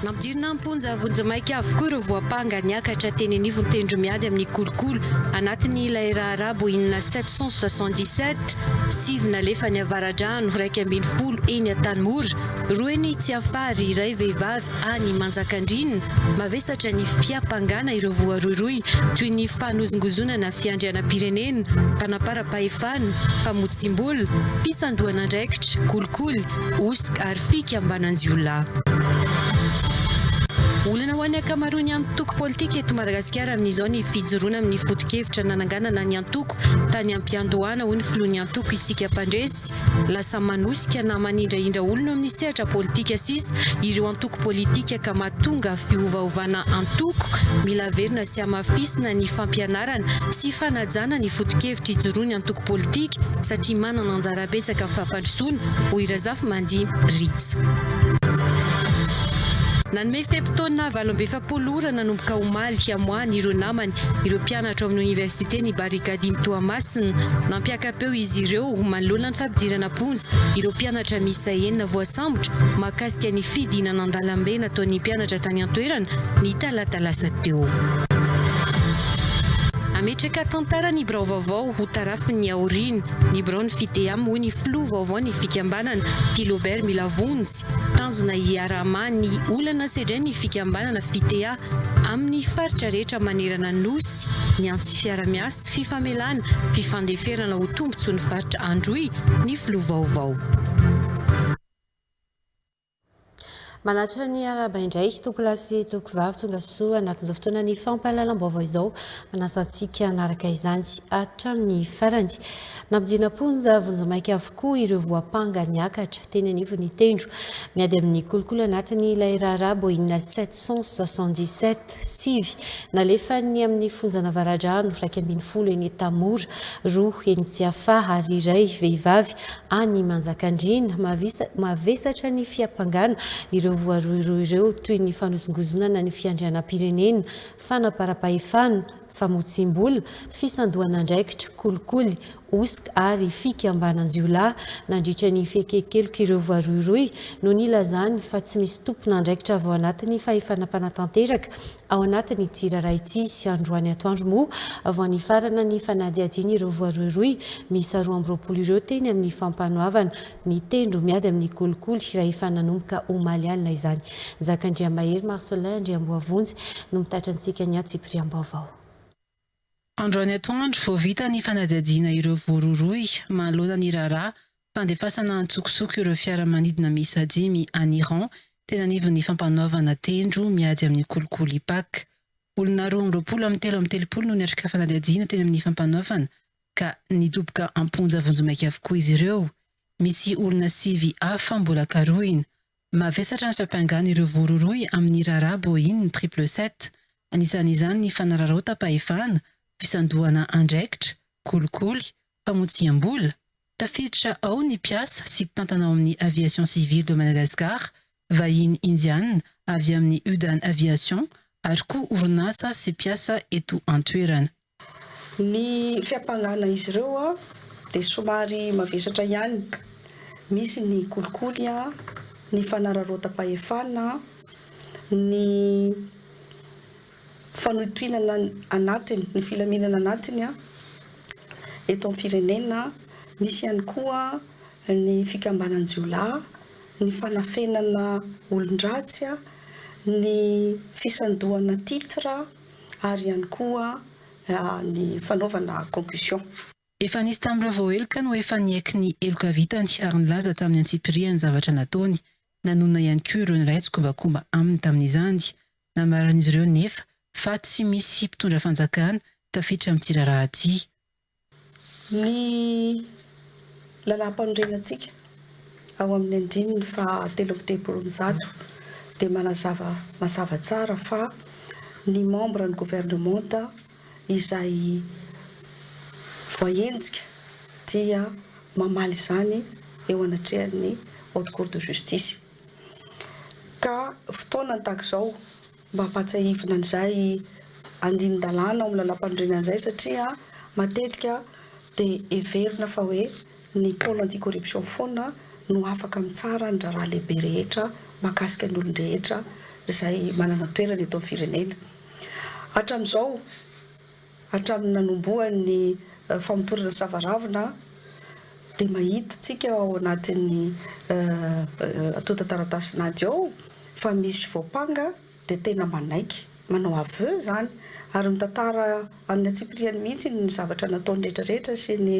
Nampidirina am-ponja vonjimaika avokoa ireo voampanga niakatra teny anivon'ny tendromiady amin'ny kolikoly anatin'ilay raharaha Boeing sept cent soixante-dix-sept. Sivy nalefa any Avaradrano, iraika ambin'ny folo eny Antanimora, roa eny Tsiafary, iray vehivavy any Manjakandriana. Mavesatra ny fiampangana ireo voarohirohy toy ny fanozongozonana fiandrianam-pirenena, Baefana, famotsiam-bola, fisandohan'andraikitra, kolikoly, hosoka ary fikambanan-jiolahy. Olana ho an'ny ankamaroan'ny antoko politika eto Madagasikara amin'izao ny fijoroana amin'ny foto-kevitra nananganana ny antoko tany am-piandohana, hoy ny filohan'ny antoko Isika Mpandresy. Lasa manosika na manindrahindra olona eo amin'ny sehatra politika sisa ireo antoko politika ka mahatonga fiovaovana antoko. Mila averina sy hamafisina ny fampianarana. fanjakana sy fanajana ny foto-kevitra ijoroany antoko politika satria manana anjara betsaka amin'ny fampandrosoana, hoy Razafimandia Rich. Nanome fe-potoana valo amby efapolo ora nanomboka omaly hihamoahany ireo namany ireo mpianatra ao amin'ny oniversiten'i Barikadimy Toamasina. Nampiaka-peo izy ireo manoloana ny fampidirana am-ponja ireo mpianatra miisa enina voasambotra mikasika ny fidinana an-dalambe nataon'ny mpianatra tany an-toerana ny talata lasa teo. Hametraka tantara ny birao vaovao ho tarafin'ny aoriana ny biraon'ny Fideam hoy ny filoha vaovaon'ny fikambanana, Tilobert Milavonjy. Tanjona hiaraha-maha ny olana sedrain'ny fikambanana Fitea amin'ny faritra rehetra manerana ny Nosy ny antso fiara-miasa fifamelana fifandeferana ho tombontsoan'ny faritra Androy ny filoha vaovao. Manattra ny arahaba indray Tompoko lahy sy Tompoko vavy tonga soa anatin'izao fotoana ny fampahalalam-baovao izao. Manasa antsika hanaraka izany hatramin'ny farany. Nampodiana am-ponja vonjimaika avokoa ireo voampanga niakatra teny anivon'ny tendro. Miady amin'ny kolikoly anatiny ilay raharaha Boeing 777 sivy nalefan'ny amin'ny fonja Navaradrano iraika ambin'ny folo eny Tamora, roa eny Tsiafaha ary iray vehivavy Any Manjakandriana, mavesatra ny fiampangana ireo voarohirohy ireo toy ny fanozongozonana ny fiandrianam-pirenena, fanaparam-pahefana, famotsiam-bola, fisandohan'andraikitra, kolikoly, hosoka ary fikambanan-jiolahy nandritra ny fiekenkelok'ireo voarohirohy no nilazany fa tsy misy tompon'andraikitra avy ao anatin'ny fahefana mpanatanteraka Ao anatin'ity raharaha ity, androany atoandro moa vao nifarana ny fanadihadian'ireo voarohirohy miisa roa amby roapolo ireo teny amin'ny fampanoavana ny tendro miady amin'ny kolikoly raha efa nanomboka omaly alina izany. Njakandriamahery Marcelin Andriamboavonjy no mitatra antsika ny antsipiriam-baovao. Androany atoandro vao vita ny fanadihadiana ireo voarohirohy mahaloana ny raharaha fandefasana antsokosoko ireo fiaramanidina miisa dimy any Iran, teny anivon'ny fampanoavana tendro miady amin'ny kolikoly IPAC. Olona roa amby roapolo amin'ny telo amby telopolo no niatrika fanadihadiana teny amin'ny fampanoavana ka nidoboka am-ponja vonjimaika avokoa izy ireo. Misy olona sivy hafa mbola karohina. Mavesatra ny fampiangan'ireo voarohirohy amin'ny raharaha Boeing triple sept, anisan'izany ny fanararaotam-pahefana, fisandohana andraikitra, kolikoly, famotsiam-bola. Tafiditra ao ny mpiasa sy mpitantana ao amin'ny Aviation Civile de Madagascar, vahiny Indiana avy amin'ny Udan Aviation ary koa orinasa sy mpiasa eto an-toerana. Ny fiampangana izy ireo dia somary mavesatra ihany, misy ny kolikoly, ny fanararaotam-pahefana, ny fanoitoinana anatiny, ny filaminana anatiny eto amin'ny firenena, misy ihany koa ny fikambanan-jiolahy, ny fanafenana olon-dratsy, ny fisandohana titre. ary ihany koa ny fanaovana concussion. Efa nisy tamin'ireo voaheloka no efa niaiky ny heloka vitany ary nilaza tamin'ny antsipirihany ny zavatra nataony. Nanonona ihany koa ireo niray tsikombakomba aminy tamin'izany. Nambaran'izy ireo nefa fa tsy misy mpitondra fanjakana tafiditra amin'ny tsiraraha ity. Ny Lalàmpanorenantsika ao amin'ny andininy faha telo amby telopolo amby zato dia manazava mazava tsara fa ny membre ny governemanta izay voaenjika dia mamaly izany eo anatrehan'ny Haute Cour de Justice ka fotoanany tahaka izao Mba vatsiahivina an'izay andinin-dalàna ao amin'ny Lalàmpanorenana izay satria matetika dia heverina fa hoe ny Pôle anti-corruption foana no afaka mitsara ny raharaha lehibe rehetra mahakasika ny olon-drehetra izay manana toerana eto amin'ny firenena. Hatramin'izao. Hatramin'ny nanombohany ny famotorana sava ravina dia mahita tsika ao anatin'ny antontan-taratasin'ady ao fa misy voampanga dia tena manaiky, manao aveu izany ary mitantara amin'ny antsipiriany mihitsy ny zavatra nataony rehetra rehetra sy ny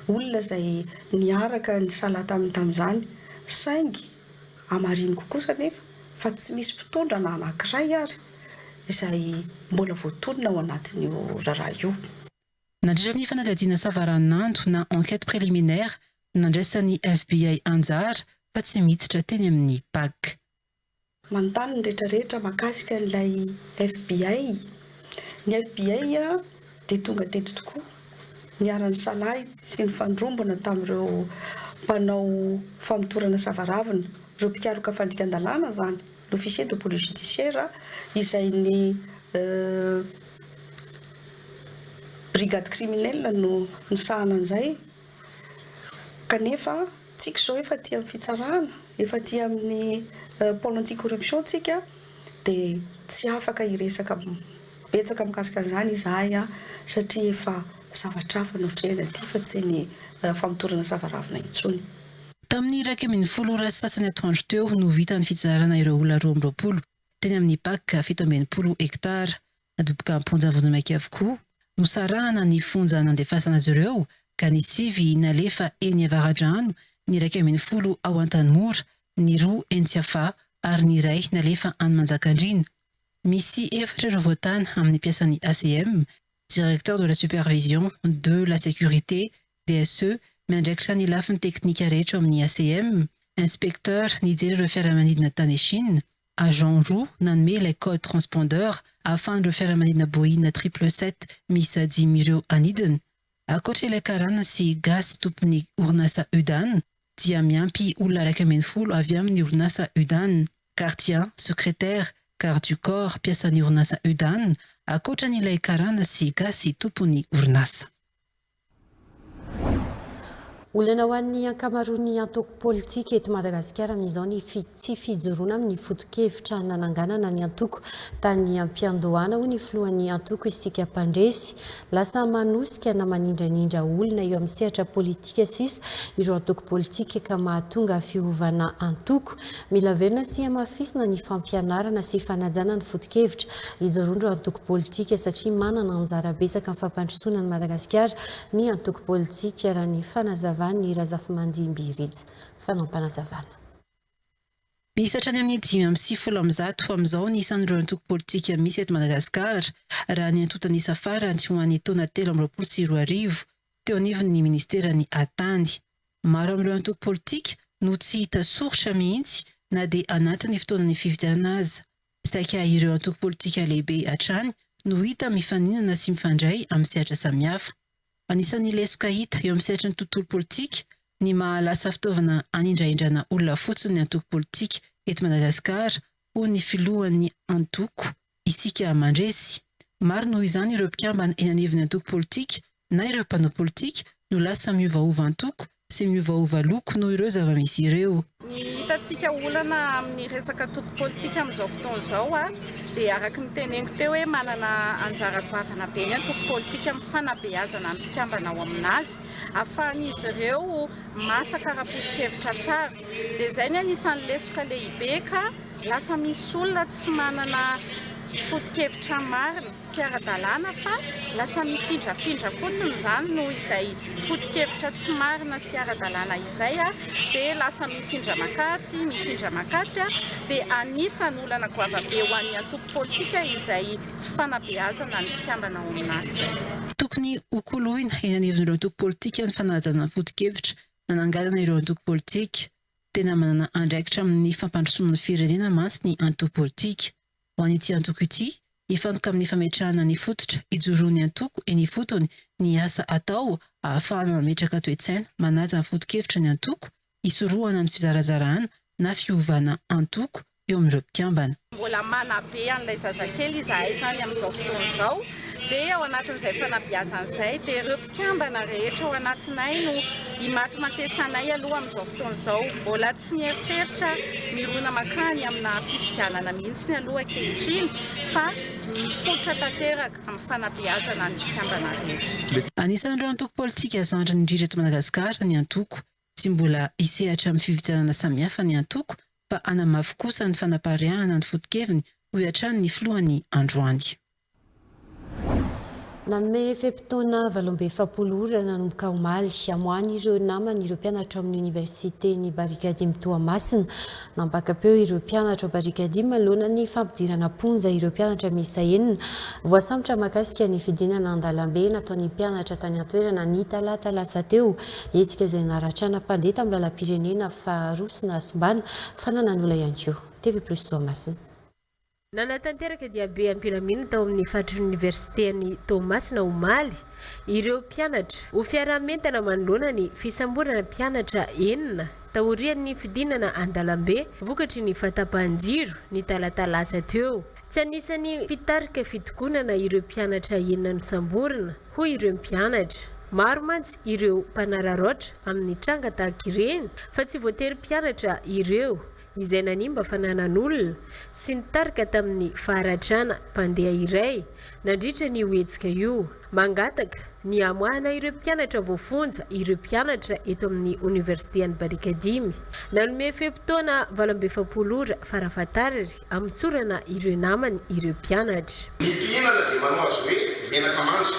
olona izay niaraka nisalahy taminy tamin'izany saingy Hamariniko kosa anefa fa tsy misy mpitondra na anankiray ary izay mbola voatonona ao anatin'io raharaha io. Nandritra ny fanadihadiana savaranando na enquête préliminaire nandraisan'ny FBI anjara fa tsy miditra teny amin'ny pac. Manontany ny rehetra rehetra mahakasika an'ilay FBI. Ny FBI dia tonga teto tokoa, niara-nisalahy sy nifandrombona tamin'ireo mpanao famotorana savaravina, ireo mpikaroka fandikan-dalàna izany, ny officier de police judiciaire izay ny brigade criminelle no nisahana an'izay, Kanefa tsika izao efa aty amin'ny fitsarana, efa aty amin'ny pôle anti-corruption tsika dia tsy afaka hiresaka betsaka mikasika an'izany izahay satria efa zavatra hafa no atrehina aty fa tsy ny famotorana savaravina intsony. Tamin'ny iraika ambin'ny folo ora sy sasany atoandro teo no vita ny fitsarana ireo olona roa amby roapolo teny amin'ny Pac fito amby enimpolo hektara. nadoboka am-ponja vonjimaika avokoa. Nosarahana ny fonja nandefasana azy ireo ka ny sivy nalefa eny Avaradrano, ny iraika ambin'ny folo ao Antanimora, ny roa eny Tsiafahy ary ny iray nalefa any Manjakandriana. Misy efatra ireo voatàna amin'ny mpiasan'ny ACM, Directeur de la Supervision de la Sécurité, DSE, miandraikitra ny lafiny teknika rehetra ao amin'ny ACM, Inspecteur nijery ireo fiaramanidina tany Chine, agents roa nanome ilay code transpondeur ahafahan'ireo fiaramanidina Boeing sept cent trente sept miisa dimy ireo anidina. Ankoatra ilay karana sy gasy tompon'ny orinasa Udaan dia miampy olona iraika ambin'ny folo avy amin'ny orinasa Udaan, gardiens, secrétaires, gardes du corps, mpiasan'ny orinasa Udaan, ankoatra an'ilay karana sy gasy tompon'ny orinasa. Olana ho an'ny ankamaroan'ny antoko politika eto Madagasikara amin'izao ny tsy fijoroana amin'ny fotokevitra nananganana ny antoko tany am-piandohana hoy ny filohan'ny antoko isika mpandresy. Lasa manosika na manindranindraha olona eo amin'ny sehatra politika sisa ireo antoko politika ka mahatonga fiovana antoko. Mila averina sy hamafisina ny fampianarana sy fanajana ny foto-kevitra hidorondro antoko politika satria manana anjara betsaka amin'ny fampandrosoana an'i Madagasikara ny antoko politika raha ny fanazavan'i Razafimandimby Rija. Fanampanazavanà. Misy hatrany amin'ny dimy amby sivifolo amby zato amin'izao ny isan'ireo antoko politika misy eto Madagasikara raha ny antontan'isa farany ho an'ny taona telo amby roapolo sy roa arivo teo anivon'ny ministeran'ny Atany. Maro amin'ireo antoko politika no tsy hita soritra mihitsy na dia anatin'ny fotoanan'ny fifidianana aza. Saika ireo antoko politika lehibe hatrany no hita mifaninana sy mifandray amin'ny sehatra samihafa. Anisan'ny lesoka hita eo amin'ny sehatry ny tontolo politika ny maha lasa fitaovana hanindrahindrana olona fotsiny ny antoko politika eto Madagasikara hoy ny filohan'ny antoko Isika Mandresy. Maro noho izany ireo mpikambana eny anivon'ny antoko politika na ireo mpanao politika no lasa miovaova antoko sy miovaova loko noho ireo zava-misy ireo. Ny hitantsika olana amin'ny resaka antoko politika amin'izao fotoana izao dia araka ny teneniko teo hoe manana anjara goavana be ny antoko politika amin'ny fanabeazana ny mpikambana ao aminazy ahafahan'izy ireo masaka ara-poto-kevitra tsara. Dia izay ny anisan'ny lesoka lehibe ka lasa misy olona tsy manana foto-kevitra marina sy ara-dalàna fa lasa mifindrafindra fotsiny izany noho izay foto-kevitra tsy marina sy ara-dalàna izay dia lasa mifindra makatsy mifindra makatsy dia anisan'ny olana goavabe ho an'ny antoko politika izay tsy fanabeazana ny mpikambana ao amin'asa. Tokony hokoloina eny anivon'ireo antoko politika ny fanajana ny foto-kevitra nananganana ireo antoko politika. Tena manana andraikitra amin'ny fampandrosoana ny firenena mantsy ny antoko politika. Ho an'ity antoko ity, hifantoka amin'ny fametrahana ny fototra hijoroan'ny antoko eny ifotony ny asa atao ahafahana mametraka toe-tsaina manaja ny foto-kevitra ny antoko hisorohana ny fizarazarahana na fiovana antoko eo amin'ireo mpikambana. Mbola manabe an'ilay zazakely izahay izany amin'izao fotoana izao, dia ao anatin'izay fanabeazana izay dia ireo mpikambana rehetra ao anatinay no imatimatesanay aloha amin'izao fotoana izao. Mbola tsy mieritreritra mirona mankany amina fifidianana mihitsy aloha ankehitriny fa mifototra tanteraka amin'ny fanabeazana ny mpikambana rehetra. Anisan'ireo antoko politika zandrin'ny Rija eto Madagasikara ny antoko Tsy mbola hisehatra amin'ny fifidianana samihafa ny antoko fa hanamafy kosa ny fanapariahana ny foto-keviny, hoy hatrany ny filohany androany. Nanome fe-potoana valo amby efapolo ora nanomboka omaly, amoahany ireo namany ireo mpianatra ao amin'ny Oniversiten'i Barikadimy Toamasina, Nampaka-peo ireo mpianatra ao Barikady manoloana ny fampidirana am-ponja ireo mpianatra miisa enina voasambotra mahakasika ny fidinana an-dalambe nataon'ny mpianatra tany an-toerana ny talata lasa teo. Hetsika izay naratrana mpandeha tamin'ny lalam-pirenena faharoa sy nahasimbana fananan'ola ihany koa. TV Plus Toamasina. Nanatanteraka diabe ampiramina tao amin'ny faritry ny Oniversiten'i Toamasina omaly ireo mpianatra, ho fiaraha-mientana manoloana ny fisamborana mpianatra enina taorian'ny fidinana an-dalambe vokatry ny fahatapahan-jiro ny talata lasa teo. Tsy anisan'ny mpitarika fitokonana ireo mpianatra enina nosamborina, hoy ireo mpianatra. Maro mantsy ireo mpanararaotra amin'ny tranga tahaka ireny fa tsy voatery mpianatra ireo. izay nanimba fananan'olona sy nitarika tamin'ny faharatrana mpandeha iray nandritra an'io hetsika io. Mangataka ny hamoahana ireo mpianatra voafonja ireo mpianatra eto amin'ny Oniversite an'i Barikadimy. Nanome fe-potoana valo amby efapolo ora farafahatarry hamotsorana ireo namany ireo mpianatra. Ny mpihinana dia manao azy hoe menaka mandry.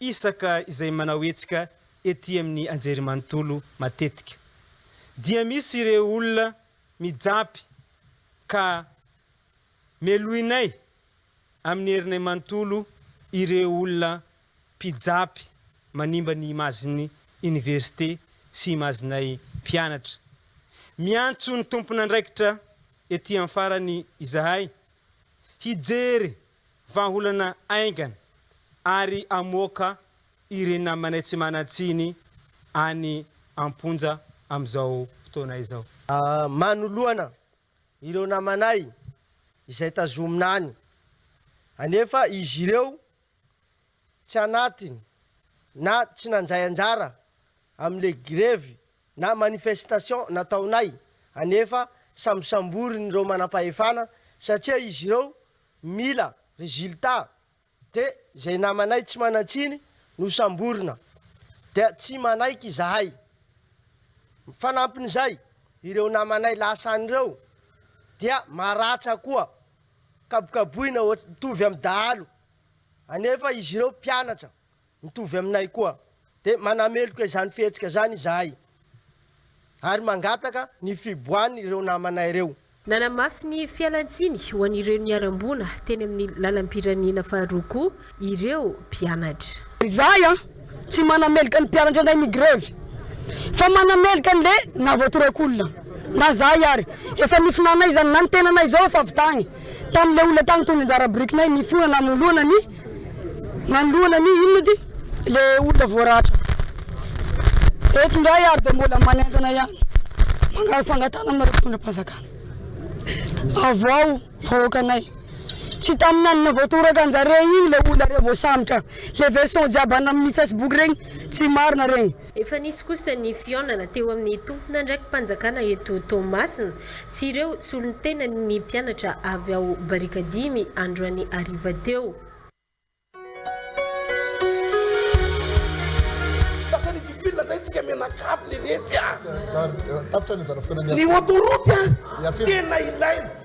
isaka izay manao hetsika ety amin'ny anjerimanontolo matetika dia misy ireo olona mijapy ka melohinay amin'ny herinay manontolo ireo olona mpijapy manimba ny imazin'ny oniversite sy imazinay mpianatra. Miantso ny tompon'andraikitra ety amin'ny farany izahay hijery Vahaolana haingana ary amoaka ireny namanay tsy manan-tsiny any am-ponja amin'izao fotoana izao. Manoloana ireo namanay izay tazomina any anefa izy ireo tsy anatiny na tsy nandray anjara amin'ilay grevy na manifestation nataonay anefa sambosamborin'ireo manam-pahefana satria izy ireo Mila résultat de zay namanay tsy manantsiny no samborina dia tsy manaiky izahay. Fanampin'izay ireo namanay lasa any ireo dia maratsa koa kabokaboina ohatry mitovy amin'ny dahalo anefa izy ireo mpianatra Mitovy aminay koa, dia manameloka izany fihetsika izany izahay ary mangataka ny fiboahan' ireo namanay ireo. Nanamafy ny fialan-tsiny ho an'ireo niharam-boina teny amin'ny lalam-pirenena faharoa koa ireo mpianatra. Izahay tsy manameloka ny mpianatra indray migrevy fa manameloka an'le nahavoatorak' olona. Na izahay ary efa nifinanay izany na ny tenanay izao efa avy tagny tamin'le olona tagny toy ny anjara birikinay nifoha nanoloana ny Manoloana ny inona ity le olona voaratra? Eto indray ary dia mbola manentana ihany mangala fangatahana aminareo fitondram-panjakana. Avoaho vahoakanay. Tsy tamin'ny andro navoatoraka anjare iny le olona rey voasambotra. Le version jiaby any amin'ny facebook regny tsy marina regny. Efa nisy kosa ny fihaonana teo amin'ny tomponandraki-panjakana eto Toamasina sy ireo solontenany ny mpianatra avy ao Barikadimy androany hariva teo. Lasa ridicule indray tsika mianakavy leletsy a! Tapitra ny anjara fitondran'ny. Ny autoroute a! Tena ilaina.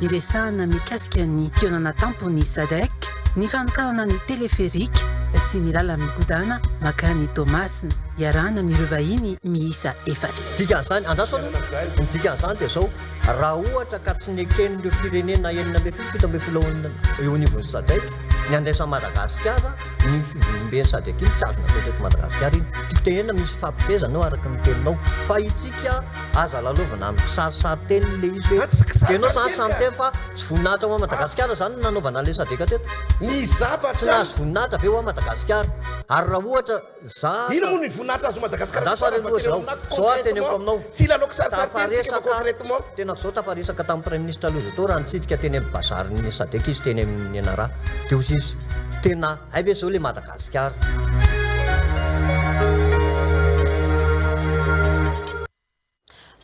Niresahana mikasika ny fihaonana tampon'ny Sadec, ny fanokanana ny teleferika sy ny làlana migodàna makany Toamasina, iarahana amin'ireo vahiny miisa efatra. Dikan'izany, andraso aloha, ny dikan'izany dia izao, raha ohatra ka tsy neken'ireo firenena enina ambin'ny folo, fito ambin'ny folo ao eo anivon'ny Sadec ny handraisan'i Madagasikara iny fivoriamben'ny Sadec iny, tsy azonareo teto Madagasikara iny. Tiako tenenina, misy fifampifiezana eo araka ny teninao, fa isika, Aza lalaovina amin'ny kisarisary teny ilay izy hoe. Ianao izany samy miteny fa tsy voninahitra ho an'i Madagasikara izany no nanaovana an'ilay Sadec teto? Ny zavatra. Tsy nahazo voninahitra ve ho an'i Madagasikara? Ary raha ohatra za. Inona moa ny voninahitra azon'i Madagasikara? Andraso ary aloha izao. Izao ary teneniko aminao. Tsy lalao kisarisary teny isika fa concrètement. Tena izao tafaresaka tamin'ny Praiminisitra aloha izao teo raha nitsidika teny amin'ny bazarin'ny Sadec izy teny amin'ny Nianara. Dia hoy izy, tena hay ve izao ilay Madagasikara?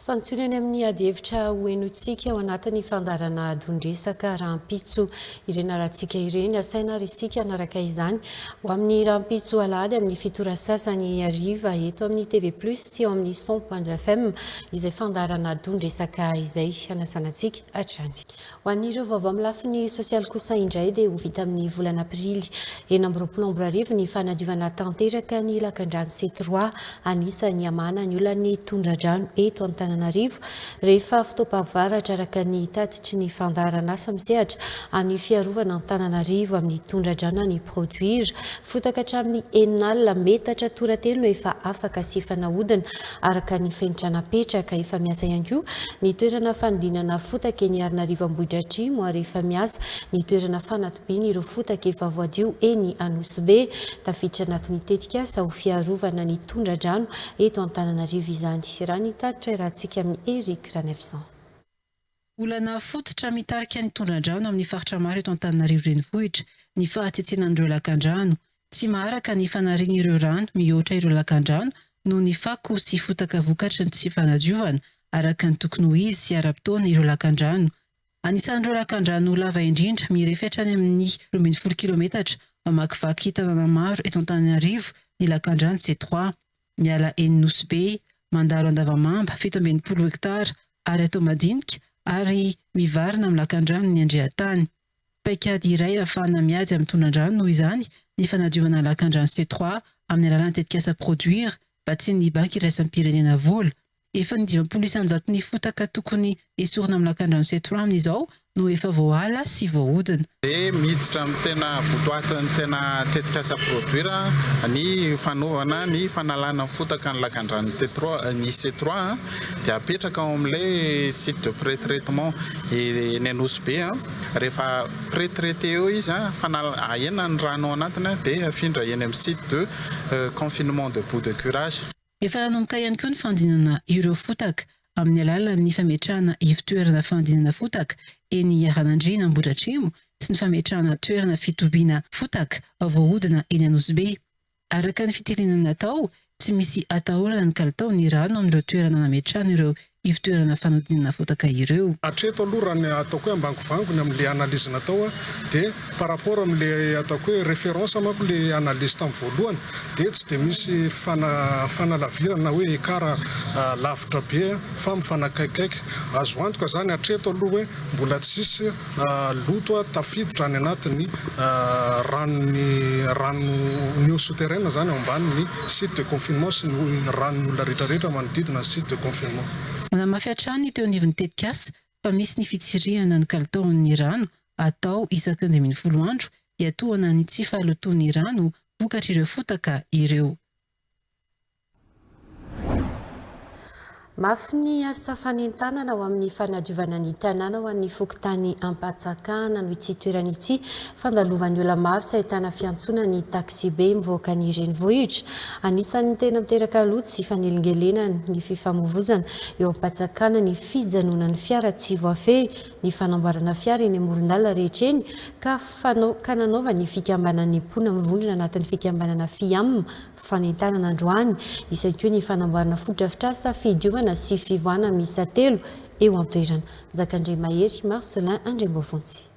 Santiono eny amin'ny adihevitra hohenointsika ao anatin'ny fandaharana adon-dresaka rahampitso ireny harantsika ireny. Asaina ary isika hanaraka izany ho amin'ny rahampitso alahady amin'ny fito ora sasany hariva eto amin'ny TV Plus sy ao amin'ny 100.2 FM izay fandaharana adon-dresaka izay hanasana antsika hatrany. Ho an'ireo vaovao amin'ny lafiny sosialy kosa indray dia ho vita amin'ny volana aprily enina amby roapolo amby roa arivo ny fanadiovana tanteraka ny lakandrano sy trois anisan'ny hamahana ny olan'ny tondradrano eto Antananarivo rehefa fotoam-pahavaratra araka ny tatitry ny fandaharan'asa misehatra amin'ny fiarovana Antananarivo amin'ny tondradrano any Produire fotaka hatramin'ny enina alina metatra toratelo no efa afaka sy efa nahodina araka ny fenitra napetraka. Efa miasa ihany koa ny toerana fanodinana fotaka eny Arinarivo Ambohidratrimo ary efa miasa ny toerana fanatobiana ireo fotaka efa voadio eny Anosibe. Tafiditra anatin'ny tetikasa ho fiarovana ny tondra-drano eto Antananarivo izany, raha ny tatitra iarahantsika amin'i Eric Ranefson. Olana fototra mitarika ny tondra-drano amin'ny faritra maro eto Antananarivo renivohitra ny fahatsitsinan'ireo lakandrano. Tsy maharaka ny fanarian'ireo rano mihoatra ireo lakandrano noho ny fako sy fotaka vokatry ny tsy fanadiovana araka ny tokony ho izy sy ara-potoana ireo lakandrano. Anisan'ireo lakandrano lava indrindra, mirefy hatrany amin'ny roa ambin'ny folo kilometatra, mamakivaky tanàna maro eto Antananarivo ny lakandrano Setrois. miala eny Nosy Be, mandalo Andavamamba, fito amby enimpolo hektara ary atao madinika ary mivarina amin'ny lakandrano ny Andriantany. Paikady iray ahafahana miady amin'ny tondradrano noho izany ny fanadiovana ny lakandrano Setroà amin'ny alalan'ny tetikasa Produire, vatsian'ny Banky Iraisam-pirenena Vola. Efa ny dimampolo isanjato ny fotaka tokony esorina amin'ny lakandrano Setorano izao no efa voaala sy voahodina. Dia miditra amin'ny tena votoatin'ny tena tetikasa produire ny fanovana ny fanalana ny fotaka ny lakandranon'i Tetroa, ny Setroa dia apetraka ao amin'ilay site de pretraitement eny Anosy Be, rehefa pretraiter eo izy, fanal, ahena ny rano ao anatiny dia afindra eny amin'ny site de confinement de bout de curage. Efa hanomboka ihany koa ny fandinana ireo fotaka amin'ny alalan'ny fametrahana ivon-toerana fandinana fotaka eny Iharanandriana Ambohidratrimo sy ny fametrahana toerana fitobiana fotaka voahodina eny Anosibe. Araka ny fitenenana natao, tsy misy atahorana ny kalitao ny rano amin'ireo toerana nametrahana ireo ivtoerana fanodinana fotaka ireo. Hatreto aloha raha ny ataoko hoe ambangovangony amin'ilay analyse natao dia par rapport amin'ilay ataoko hoe référence manko ilay analyse tamin'ny voalohany dia tsy dia misy fanalavirana na hoe écart lavitra be fa mifanakaikikaiky. Azo antoka izany hatreto aloha hoe mbola tsisy loto a tafiditra any anatin'ny ranon'ny rano nio souterraine zany ao ambanin'ny site de confinement sy ny ranon'ny olona rehetra rehetra manodidina ny site de confinement. Nanamafy hatrany teo anivon'ny tetikasa fa misy ny fitsirihana ny kalitaon'ny rano atao isaky ny dimy ambin'ny folo andro hiatohana ny tsy fahalotoan'ny rano vokatr'ireo fotaka ireo. Mafy ny asa fanentanana ho amin'ny fanadiovana ny tanàna ho an'ny fokontany Ampatsakana no ity toerana ity. Fandalovan'ny olona maro tsy ahitana fiantsoana ny taxibe mivoaka ny renivohitra. Anisan'ny tena miteraka loto sy fanelingelenany ny fifamoivozana eo Ampatsakana ny fijanonan'ny fiara tsy voafehy ny fanamboarana fiara eny amoron-dalana rehetra eny ka fanao ka nanaovan'ny fikambanan'ny mpona mivondrona anatin'ny fikambanana FIAM fanentanana androany izay koa ny fanamboarana fotodrafitrasa fidiovana sy fivoahana miisa telo eo an-toerana. Njakandriamahery Marcelin Andriambovonjy.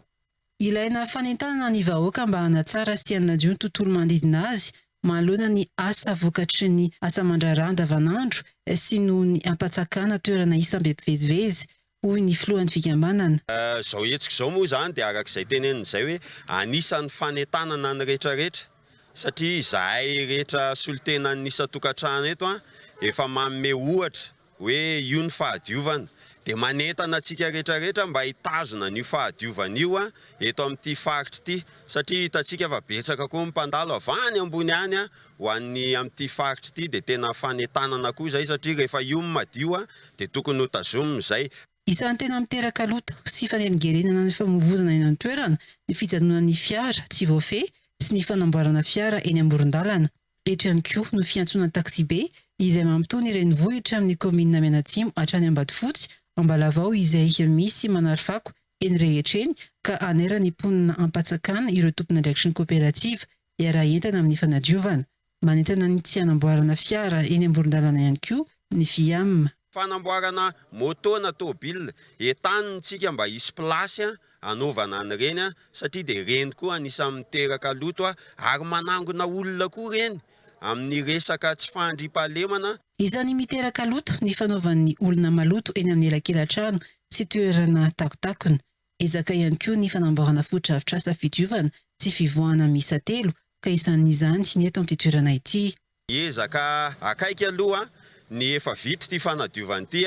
Ilaina fanentanana ny vahoaka mba hanatsara sy hanadio ny tontolo manodidina azy manoloana ny asa vokatry ny asa aman-draharaha andavanandro sy noho ny hampatsakana toerana isam-be mpivezivezy, hoy ny filohan'ny fikambanana. Izao hetsika izao moa izany dia araka izay teneniny izay hoe anisan'ny fanentanana ny rehetrarehetra satria izahay rehetra solontenan'ny isan-tokantrano eto efa manome ohatra hoe io ny fahadiovana dia manentana antsika rehetra rehetra mba hitazona an'io fahadiovana io eto amin'ity faritra ity satria hitantsika fa betsaka koa ny mpandalo avy any ambony any ho any amin'ity faritra ity dia tena fanentanana koa izay satria rehefa io ny madio dia tokony ho tazomina izay Isan'ny tena miteraka loto sy fanelingelenana ny famoivoizana eny an-toerana ny fijanonan'ny fiara tsy voafehy sy ny fanamboarana fiara eny amoron-dalana. Eto ihany koa no fiantsoana taksibe izay mampitony ny renivohitra amin'ny kaominina Mianatsimo hatrany Ambatofotsy, Ambalavao izay misy manary fako eny rehetra eny ka hanera ny mponina am-patsakana ireo tompon'andraikitry ny koperativa hiara-hientana amin'ny fanadiovana. Manentana ny tsy hanamboarana fiara eny amoron-dalana ihany koa ny Viam. Fanamboarana moto na tôbile entanin tsika mba hisy place anaovana an ireny satria dia ireny koa anisan miteraka loto ary manangona olona koa ireny amin ny resaka tsy fandriam pahalemana. Isany miteraka loto ny fanaovan ny olona maloto eny amin ny elakelantrano sy toerana takotakona. Ezaka ihany koa ny fanamboarana fotodrafitrasa fidiovana sy fivoahana miisa telo ka isan izany ny eto amin'ity toerana ity. Hiezaka akaiky aloha ny efa vita ity fanadiovana ity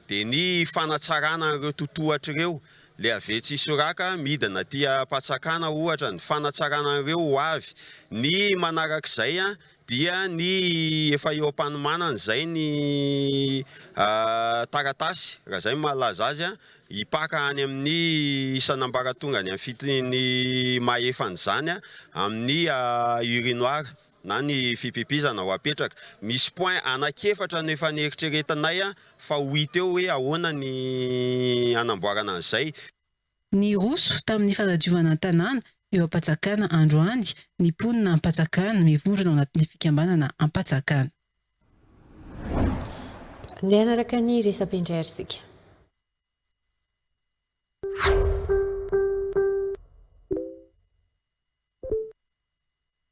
dia ny fanatsarana an'ireo totohatra ireo Leave tsy hisoraka midina aty am-patsakana ohatra ny fanatsarana an'ireo ho avy ny manarak'izay dia ny efa eo am-panomanana izay ny taratasy raha izay no mahalaza azy hipaka any amin'ny isan'ambaratongany amin'ny fiteny mahefa an'izany amin'ny urinoir. na ny fipipizana ho apetraka. Misy point anaky efatra no efa neritreretinay fa ho hita eo hoe ahoana ny hanamboarana an'izay. Niroso tamin'ny fanadiovana ny tanàna eo Ampatsakana androany ny mponina Ampatsakana mivondrona ao anatin'ny fikambanana Ampatsakana. Andeha hanaraka ny resa-pindray isika.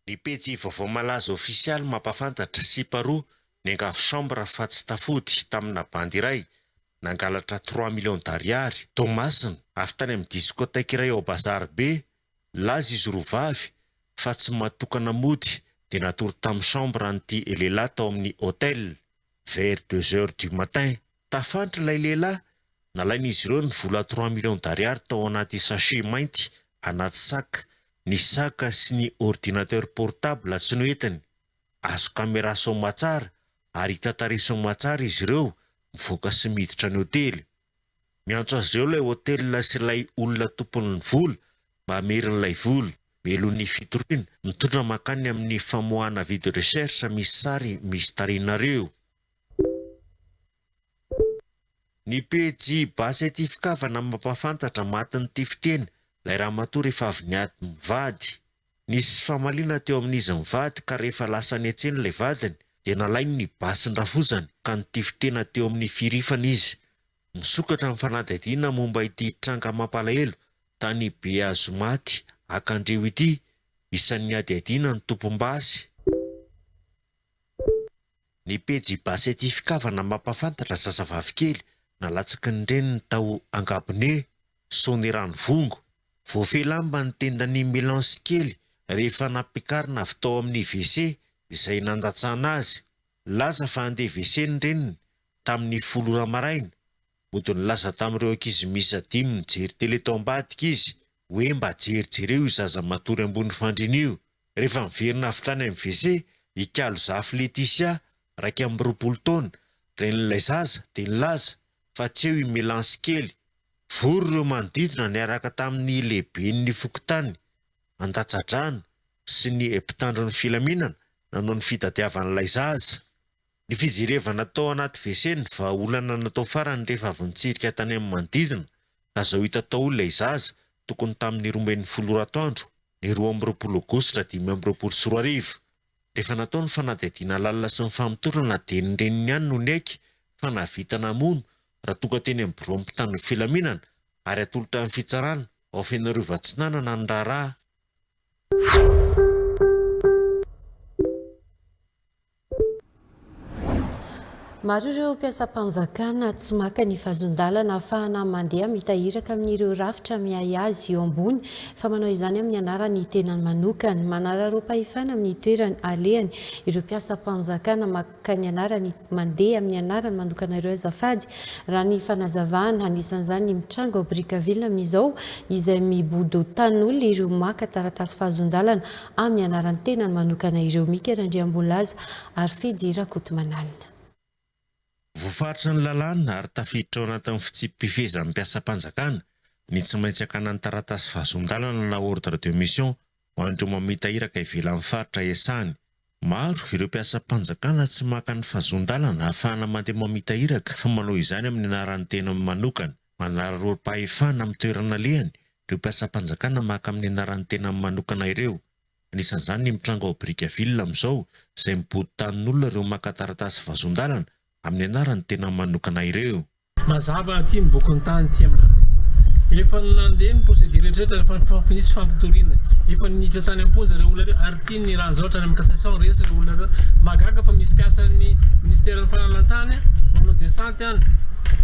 Ny pejy vaovao malaza ofisialy mampahafantatra, sipa roa, niangavy chambre fa tsy tafody, tamina bandy iray, nangalatra trois millions d'ariary, Toamasina, avy tany amin'ny discothèque iray ao Bazary be, nilaza izy roa vavy, fa tsy mahatokana mody, dia natory tamin'ny chambre an'ity lehilahy tao amin'ny hotel, vers deux heures du matin. Tafantra ilay lehilahy, nalain'izy ireo ny vola trois millions d'ariary tao anaty sachet mainty anaty sac, ny sac sy ny ordinateur portable tsy noentiny. Azo caméra soamatsara ary hita tarehy soamatsara izy ireo mivoaka sy miditra ny hotely. Miantso azy ireo ilay hotel sy ilay olona tompon'ny vola mba hameriny ilay vola. Melo ny fitoriana, mitondra mankany amin'ny famoahana vide recherche misy sary misy tarehinareo. Ny pejy Base ity fikavana mampahafantatra matin'ity fiteny lay ramatoa rehefa avy niady mivady. Nisy famaliana teo amin'izy mivady ka rehefa lasa nihetsena ilay vadiny dia nalainy ny basin-drafozany ka nitify tena teo amin'ny firifana izy. Misokatra ny fanadihadiana momba ity tranga mampalahelo tany Behazomaty Akandriho ity. Isan'ny hadihadiana ny tompom-basy. Ny pejy Basety Fikavana mampahafantatra zazavavy kely nalatsaky ny reniny tao Angabone, Soanierano-Vongo. Voafehy lamba ny tendan'i Milance kely rehefa nampiakarina avy tao amin'ny WC izay nandatsahana azy. Nilaza fa handeha WC ny reniny tamin'ny folo ora maraina. Mody nilaza tamin'ireo ankizy miisa dimy mijery tele tao ambadika izy hoe mba jerijereo io zaza matory ambony fandriana io. Rehefa niverina avy tany amin'ny WC i Kalozafy Leticia, iraika amby roapolo taona, renin'ilay zaza, dia nilaza fa tsy eo i Melansy kely. Vory ireo manodidina niaraka tamin'ny lehiben'ny fokontany, andatsa-drano sy ny mpitandro ny filaminana nanao ny fitadiavan'ilay zaza. Ny fijerevana tao anaty WC no vahaolana natao farany rehefa avy nitsirika tany amin'ny manodidina ka izao hita tao ilay zaza, tokony tamin'ny roa ambin'ny folo ora atoandro. ny roa amby roapolo aogositra dimy amby roapolo sy roa arivo. Rehefa natao ny fanadihadiana lalina sy ny famotorana dia ny reniny ihany no niaiky fa nahavita namono ratonga teny amin'ny biraon'ny mpitandron'ny filaminana ary hatolotra amin'ny fitsarana ao Fenoarivo Atsinanana ny raharaha. Maro ireo mpiasam-panjakana tsy maka ny fahazon-dalana afahana mandeha mitahiraka amin'ireo rafitra miahy azy eo ambony fa manao izany amin'ny anaran'ny tenany manokana. Manararaoam-pahefana amin'ny toerany alehany ireo mpiasam-panjakana maka ny anarany mandeha amin'ny anarany manokana ireo azafady raha ny fanazavana. Anisan'izany ny mitranga ao Brickaville amin'izao izay mibodo tanin'olona ireo maka taratasy fahazon-dalana amin'ny anaran'ny tenany manokana ireo Mika Randriambolaza ary Fidy Rakotomanalina. Voafaritry ny lalàna ary tafiditra ao anatin'ny fitsipi-pifehezan'ny mpiasam-panjakana ny tsy maintsy hakana ny taratasy fahazoan-dalana na ordre de mission ho an'ireo mamita iraka ivelan'ny faritra iasany. Maro ireo mpiasam-panjakana tsy maka ny fahazoan-dalana ahafahana mandeha mamita iraka fa manao izany amin'ny anaran'ny tenany manokana. Manararaotim-pahefana amin'ny toerana alehany ireo mpiasam-panjakana maka amin'ny anaran'ny tenany manokana ireo. Anisan'izany ny mitranga ao Brickaville amin'izao izay mibodo tanin'olona ireo maka taratasy vazon-dalana amin'ny anaran'ny tenany manokana ireo. Mazava aty ny bokiny tany ity aminay ity. Efa nandeha ny procédure rehetra rehetra fa efa nisy fampitoriana. Efa niditra tany am-ponja ireo olona ireo ary tiany raha izao hatrany amin'ny cassation resy ireo olona ireo. Mahagaga fa misy mpiasan'ny ministeran'ny fananantany manao descente.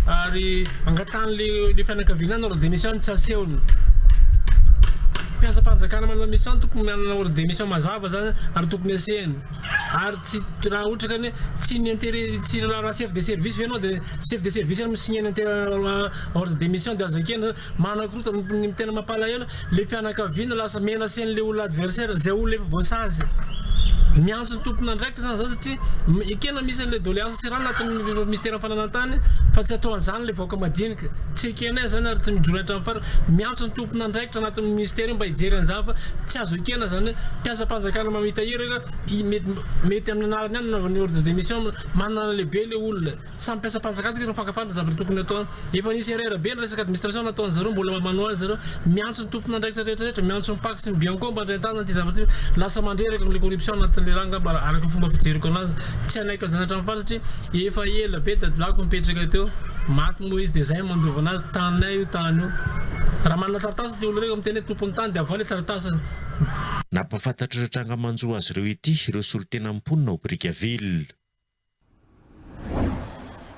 ary angatahan'ilay fianakaviana ny ordre de mission tsy asehony mpiasam-panjakana manana mission tokony manana ordre de mission mazava zany ary tokony asehany ary tsy raha ohatra ka ny tsy ny intérêt tsy raha chef de service ve ianao dia chef de service no mi-signer ny ordre de mission dia aza ekena Manakorontana ny tena mampalahelo le fianakaviana lasa menacer le olona adversaire zay olona efa voasazy. Miantso ny tompon'andraikitra zany zao satria ekena misy an'le doléance sy raha anatin'ny minisiteran'ny fananantany fa tsy atao an'zany le vahoaka madinika. Tsy ekenay zany ary tsy mijoro hatramin'ny farany. Miantso ny tompon'andraikitra anatin'ny minisitera io mba hijery an'zany fa tsy azo ekena zany hoe mpiasam-panjakana mamita iraka mety amin'ny anarany ihany no anaovany ordre de mission manana lehibe le olona. Samy mpiasam-panjakana isika no mifankafaly ny zavatra tokony atao. Efa nisy erreur be ny resaka administration nataon'ny zareo mbola mba manohy zareo. Miantso ny tompon'andraikitra rehetra rehetra, miantso ny pac sy ny bianco mba handray tanana ity zavatra ity. Lasa mandreraka ilay corruption anatin'ilay rà angamba raha araka ny fomba fijeriko anazy. Tsy hanaiky an'izany hatramin'ny farany satria efa ela be dadilahiko nipetraka teo. Maty moa izy dia izay no mandova anazy, taninay io tany io. Raha manana taratasy ity olona io ka miteny hoe tompon'ny tany dia avoahy ilay taratasiny. Nampahafantatr'ireo tranga manjo azy ireo ity ireo solotenan'ny mponina ao Brickaville.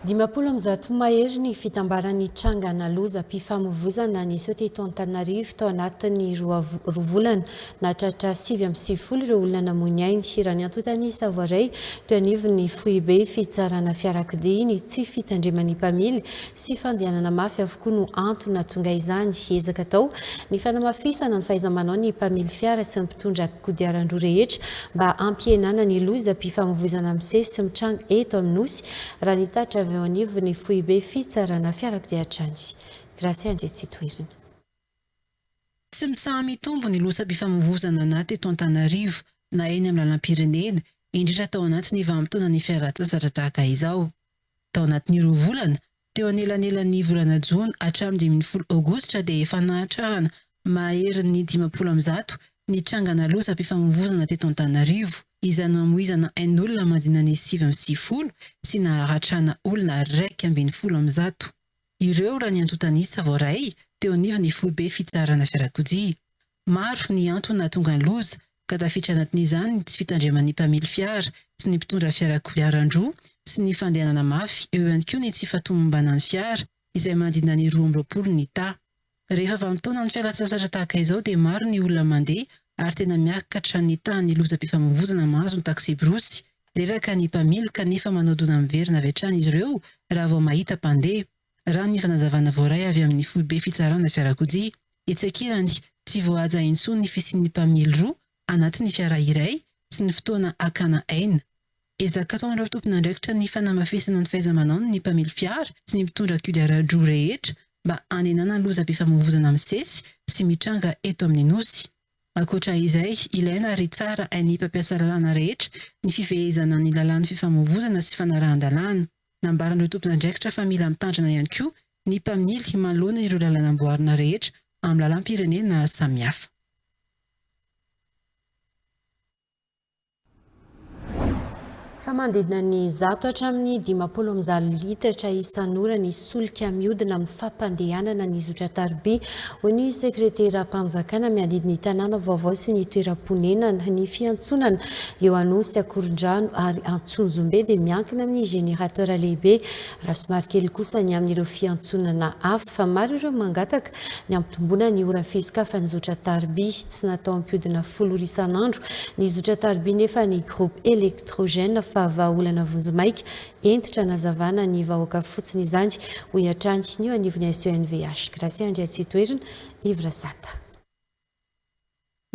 Dimampolo amby zato mahery ny fitambaran'ny trangana lozam-pifamoivozana niseho teto Antananarivo tao anatin'ny roa volana. Nahatratra sivy amby sivifolo ireo olona namoy ny ainy. Raha ny antontan'ny Savoiray, teo anivon'ny foibe fitsarana fiarakodia ny tsy fitandreman'ny mpamily sy fandehanana mafy avokoa no antony nahatonga izany. Ezaka atao ny fanamafisana ny fahaiza-manao ny mpamily fiara sy ny mpitondra kodiaran-droa rehetra mba hampihenana ny lozam-pifamoivoizana misesy sy mitranga eto amin'ny Nosy, raha ny tatitra avy eo anivon'ny foibe fitsarana fiarakodia hatrany. Gracia Andriatsitoherina. Tsy mitsaha-mitombo ny lozam-pifamoivoizana na teto Antananarivo na eny amin'ny lalam-pirenena, indrindra tao anatin'ny vanim-potoanan'ny fialan-tsasatra tahaka izao. Tao anatin'ny roa volana, Teo anelanelan'ny volana jona hatramin'ny dimy ambin'ny folo aogositra dia efa nahatrarana maherin'ny dimampolo amby zato ny trangana lozam-pifamoivoizana teto Antananarivo. Izany mamoizana ain'olona mandina ny sivy amby sivifolo sy naharatrana olona iraika ambin'ny folo amby zato ireo raha ny antontan'isa voaray teo anivon'ny foibe fitsarana fiarakodia. Maro ny antony nahatonga ny loza, ka tafiditra anatin'izany ny tsy fitandreman'ny mpamily fiara sy ny mpitondra fiara kodiaran-droa sy ny fandehanana mafy, eo ihany koa ny tsy fahatomombanan'ny fiara izay manodidina ny roa amby roapolo ny ta. Rehefa vanim-potoanan'ny fialan-tsasatra tahaka izao dia maro ny olona mandeha ary tena miakatra ny tahan'ny lozam-pifamoivoizana mahazo ny taksiborosy. Reraka ny mpamily kanefa manao dona miverina avy hatrany izy ireo raha vao mahita mpandeha. Raha ny fanazavana voaray avy amin'ny foibe fitsarana fiarakodia, etsy ankilany, tsy voahaja intsony ny fisian'ny mpamily roa anatin'ny fiara iray sy ny fotoana hakana aina. Ezaka ataon'ireo tompon'andraikitra ny fanamafisana ny fahaiza-manaony ny mpamily fiara sy ny mpitondra kodiaran-droa rehetra mba hanenana lozam-pifamoivoizana misesy sy mitranga eto amin'ny Nosy. Ankoatra izay, ilaina ary tsara hain'ny mpampiasa lalàna rehetra ny fifehezana ny lalàn'ny fifamoivoizana sy fanarahan-dalàna. Nambaran'ireo tompon'andraikitra fa mila mitandrina ihany koa ny mpamily manoloana ireo lalana amboarina rehetra amin'ny lalam-pirenena samihafa. Fa manodidina ny zato hatramin'ny dimampolo amin'ny zalo litatra isan'ora ny solika mihodina amin'ny fampandehanana ny zotran-tariby, hoy ny sekreteram-panjakana miadidy ny tanàna vaovao sy ny toeram-ponenana. Ny fiantsonana Eo Anosy, Akorondrano ary Antsonjombe dia miankina amin'ny générateur lehibe raha somary kely kosa ny amin'ireo fiantsonana hafa fa maro ireo mangataka ny hampitomboana ny ora fisokafan'ny zotra tarby. Tsy natao hampihodina folo ora isan'andro ny zotra tarby nefa ny groupe électrogène fa vahaolana vonjimaika hentitra hanazavana ny vahoaka fotsiny izany, hoy hatrany ny eo anivon'ny SENVH, Gracia Andriatsitoerina, Yves Rasata.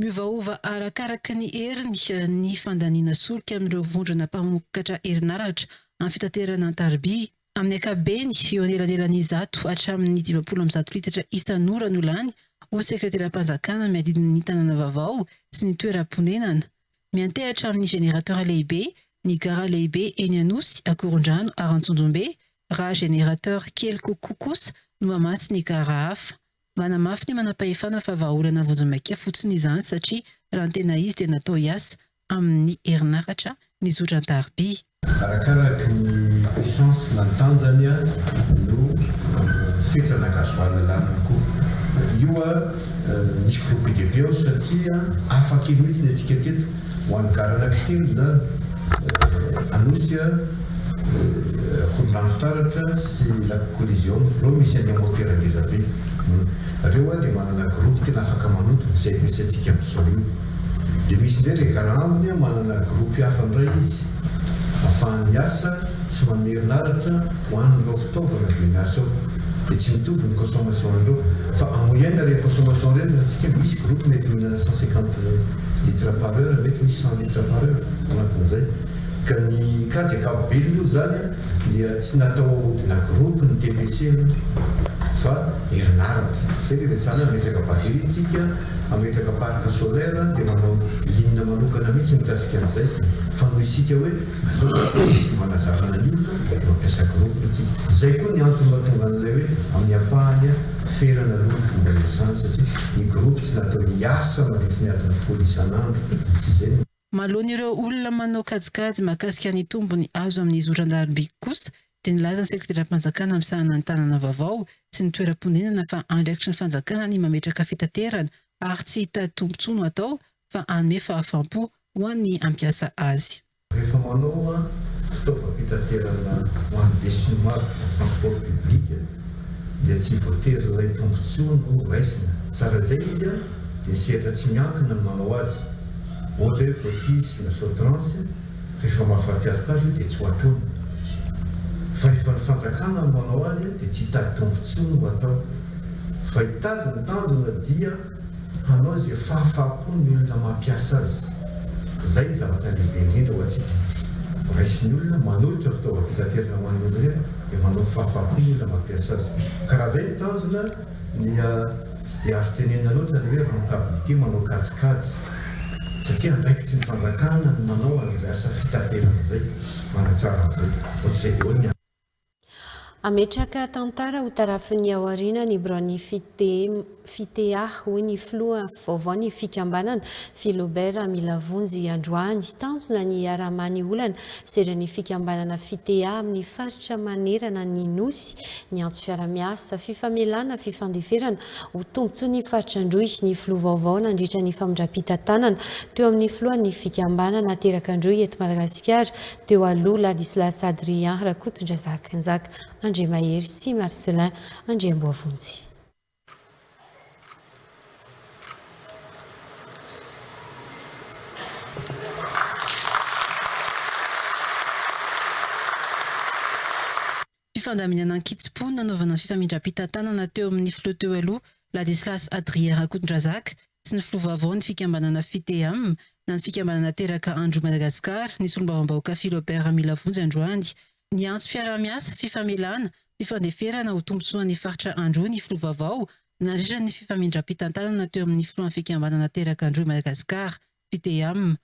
Miovaova arakaraka ny heriny ny fandaniana solika amin'ireo vondrona mpamokatra herinaratra amin'ny fitaterana an-tariby. Amin'ny ankapobeny, eo anelanelan'ny zato hatramin'ny dimampolo amby zato litatra isan'ora no lany ho sekreteram-panjakana miadidy ny tanàna vaovao sy ny toeram-ponenana. Miantehatra amin'ny générateur lehibe ny gara lehibe eny Anosy, Akorondrano ary Antsonjombe, raha générateur kely kokoa kosa no mamatsy ny gara hafa. Manamafy ny manampahefana fa vahaolana vonjimaika fotsiny izany satria raha ny tena izy dia natao hiasa amin'ny herinaratra ny zotra an-tariby. Arakaraky ny puissance na ny tanjany no fetra na gasoil laniny koa. Io misy groupe de peo satria afaka iny mihitsy ny antsika teto. Ho an'ny garana kitelo izany, Anosy, Ankorondrano Fitaratra sy Lac Coliseum ireo misy an'io motera ngeza be io. Ireo dia manana groupe tena afaka manonto izay ampiasaintsika amin'izao io. Dia misy indray ilay gara ambiny manana groupe hafa indray izy afahany miasa sy manome herinaratra ho an'ireo fitaovana izay miasa ao. Dia tsy mitovy ny consommation an'ireo fa en moyenne ireny consommation ireny resahantsika misy groupe mety mihinana cent cinquante. Litre par heure, mety misy cent litre par heure anatin'izay. Ka ny kajy ankapobeny moa izany dia tsy natao ahodina groupe ny TPC aloha fa herinaratra. Izay no iresahana hoe hametraka batterie tsika, hametraka parc solaire dia manao ligne manokana mihitsy mikasika an'izay. Fa noho isika hoe aleo batterie no tsy mba nazavana ny olona dia mampiasa groupe tsika. Izay koa ny antony mahatonga an'ilay hoe amin'ny ampahany. Ferana aloha ny fomba hiasany satria ny groupe tsy natao hiasa mandritsy ny adiny folo isan'andro mtsy zay no. Maloan' ireo olona manao kajikajy mahakasika ny tombony azo amin' ny zoran-daroby kosa dia nilaza ny sekoteram-panjakana misahana ny tanana vaovao sy ny toeram-ponenana fa andraikitry ny fanjakana ny mametraka fitaterana ary tsy hitady tombotsoa no atao fa hanome fahafam-po ho an' ny hampiasa azy. Rehefa manoa fitaovam-pitaterana ho an'ny besinimaro, transport public, dia tsy voatery ilay tombontsoa no raisina. Tsara izay izy dia sehatra tsy miankina no manao azy. Ohatra hoe cotice na sotrans, rehefa mahafaty alok'azy io dia tsy ho atony. Fa rehefa ny fanjakana no manao azy dia tsy hitady tombontsoa no atao. Fa hitady ny tanjona dia. Hanao izay fahafaha-po ny olona mampiasa azy. Izay no zavatra lehibe indrindra ho antsika. Raisin'ny olona, manolotra fitaovam-pitaterana ho an'ny olon-drehetra, dia manao fahafaha-po ny olona mampiasa azy. Ka raha izay no tanjona, dia tsy dia azo tenenina loatra ny hoe rentabilité manao kajikajy, satria andraikitry ny fanjakana ny manao an'izay asa fitaterana izay, manatsara an'izay. Ohatr'izay daholo ny antony. Hametraka tantara ho tarafin'ny ao aoriana ny biraon'ny Fitea, hoy ny filoha vaovaon'ny fikambanana, Philobert Milavonjy androany. Tanjona ny hiaraha-mamaha ny olana seran'ny fikambanana Fitea amin'ny faritra manerana ny Nosy, ny antso fiaraha-miasa, fifamelana, fifandeferana ho tombontsoan'ny faritra Androy, ny filoha vaovao nandritra ny famindram-pitantanana teo amin'ny filohan'ny fikambanana aterak'Androy eto Madagasikara, Teo aloha, Ladislas Adrien Rakotondrazaka, Njaka Andriamahery sy Marcelin Andriamboavonjy. Fifandaminana an-kitsim-po nanaovana ny fifamindram-pitantanana teo amin'ny filoha teo aloha Ladislas Adrien Rakotondrazaka sy ny filoha vaovao ny fikambanana Fitea-m na ny fikambanana teraka Androy Madagascar ny solombavambahoaka Philobert Milavonjy androany. Niantso fiaraha-miasa, fifamelana, fifandeferana ho tombontsoan'ny faritra Androy ny filoha vaovao nandritra ny fifamindram-pitantanana teo amin'ny filohan'ny fikambanana teraka Androy Madagascar Pdm.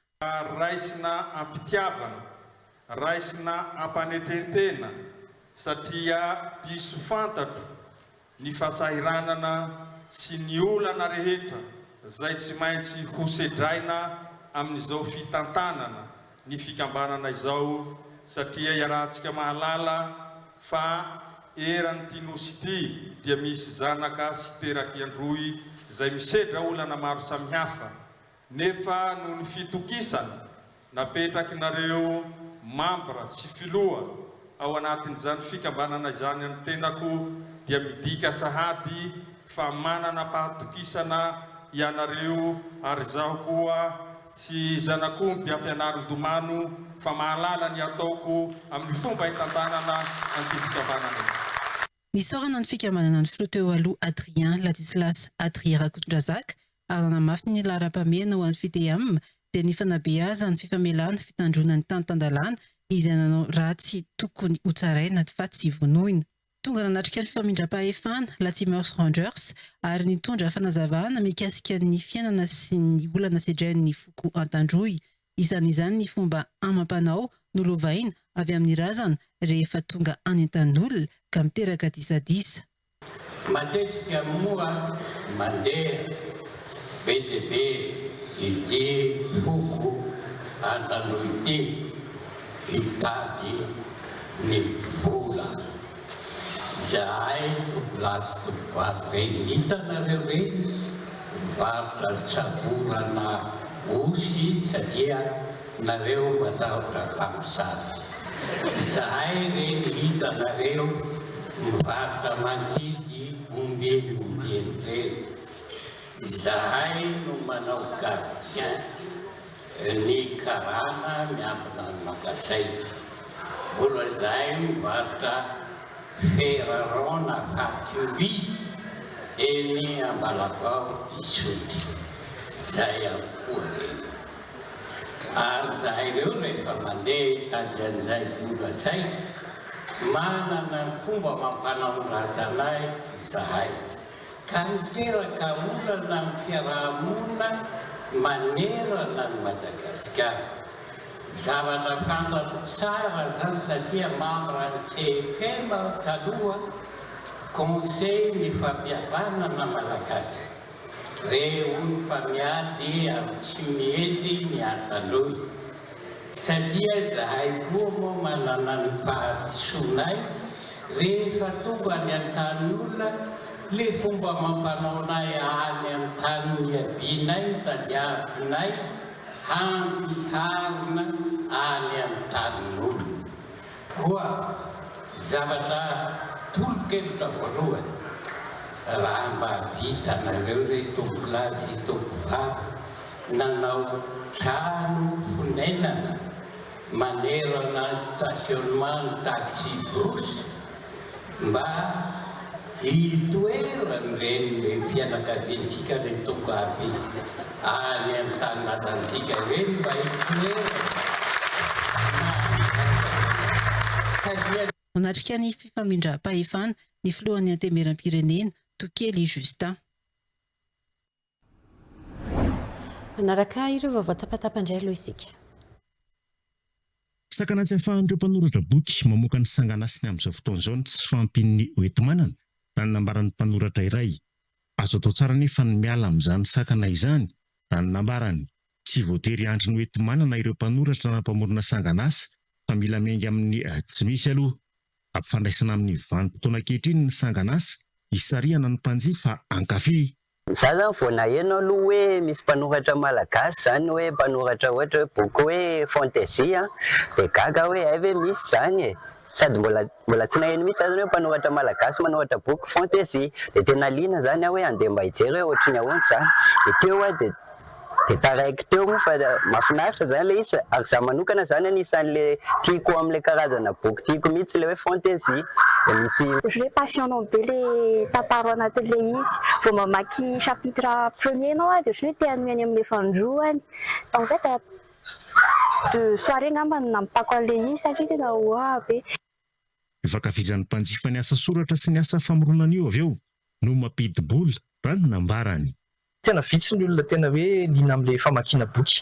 Raisina am-pitiavana, raisina am-panetren-tena satria diso fantatro ny fasahiranana sy ny olana rehetra izay tsy maintsy ho sedraina amin'izao fitantanana ny fikambanana izao satria iarahantsika mahalala fa eran'ity Nosy ity dia misy zanaka sy terak'i Androy izay misedra olana maro samihafa Nefa noho ny fitokisana napetrakinareo mambra sy filoha ao anatin'izany fikambanana izany ny tenako dia midika sahady fa mananam-pahatokisana ianareo ary izaho koa tsy zanak'omby ampianarin-domano fa mahalala ny ataoko amin'ny fomba itantanana an'ity fikambanana ity. Nisaorana ny fikambanana ny filoha teo aloha Adrien Ladislas Adrien Rakotondrazaka ary nanamafy ny laharam-pahamehana ho an'ny Fidem dia ny fanabeazany fifamelana fitandroana ny tany tan-dalàna izay nanao ratsy tokony hotsaraina fa tsy vonoina. Tonga nanatrika ny famindram-pahefana Latimers Rangers ary nitondra fanazavana mikasika ny fiainana sy ny olana sedrain'ny foko Antandroy Isan'izany ny fomba amam-panao nolovaina avy amin'ny razana rehefa tonga any an-tanin'olona ka miteraka disadisa. Matetika moa mandeha be dia be ity foko an-tandroy ity hitady ny vola. Izahay tovolahy sy tovovavy ireny hitanareo ireny mivarotra samborana osy satria nareo matahotra mpamosavy. Izahay ireny hitanareo mivarotra mangidy ombieny ombieny ireny. Izahay no manao gardien. Ny karana miankina amin'ny magazaina. Mbola izahay mivarotra Ferraron na Faturi eny Ambalavaho Isotry. Izay avokoa ireny. Ary izahay ireo rehefa mandeha hitady an'izay vola izay, manana ny fomba amam-panaon-drazanay izahay. ka niteraka olana amin'ny fiaraha-monina manerana an'i Madagasikara. Zavatra fantako tsara izany satria membre an'ny CFM aho taloha, Conseil ny fampihavanana Malagasy. Re hono fa miady amin'ny tsy mety ny antanoi. Satria izahay koa moa manana ny fahadisoanay, rehefa tonga any an-tanin'ny olona, le fomba mampanaonay any an-tany niavianay ny tadiavinay hampiharina any an-tanin'olona. Koa zavatra tolo-kevitra voalohany, raha mba vitanareo re tompolahy sy tompovavy Nanao trano fonenana manerana ny stationnement ny taxi brousse mba hitoeran'ireny renim-pianakaviantsika any Tongabe any amin'ny tany natantsika ireny mba hitoerany satria Nanatrika ny fifamindram-pahefana ny filohan'ny Antenimieram-pirenena, Tokely Justin. Manaraka ireo vaovao tapatapa indray aloha isika. Sakana tsy ahafahan'ireo mpanoratra boky mamoaka ny sanganasiny amin'izao fotoana izao ny tsy fahampian'ny hoenti-manana, raha ny nambaran'ny mpanoratra iray. Azo atao tsara anefa ny miala amin'izany sakana izany, raha ny nambarany. Tsy voatery hiandry ny hoenti-manana ireo mpanoratra na mpamorona sanganasa, fa mila miainga amin'ny tsy misy aloha. Ampifandraisina amin'ny vanim-potoana ankehitriny ny sanganasa, isarihana ny mpanjifa hankafy. Za zany vao naheno aloha hoe misy mpanoratra malagasy zany hoe mpanoratra ohatra hoe boky hoe fantasy an, dia gaga aho hoe hay ve misy zany e! sady mbola mbola tsy naheno mihitsy za zany hoe mpanoratra malagasy manoratra boky fantasy, dia tena liana zany aho hoe andeha mba hijery hoe ohatry ny ahoana zany, dia teo aho dia. Dia taraiky teo moa fa mahafinaritra izany ilay izy ary izaho manokana izany anisan'ilay tiako amin'ilay karazana boky tiako mihitsy ilay hoe fantasy dia misy Ohatry ny hoe passionnant be ilay tantara ao anatin'ilay izy. Vao mamaky chapitre premier ianao dia ohatry ny hoe te hanohy any amin'ny fahandroany. En fait deux soirées angamba no namitako an'ilay izy satria tena hoa be. Io fankafizan'ny mpanjifa ny asa soratra sy ny asa famoronana io avy eo no mampidi-bola, raha ny nambarany. Tena vitsy ny olona tena hoe liana amin'ilay famakiana boky.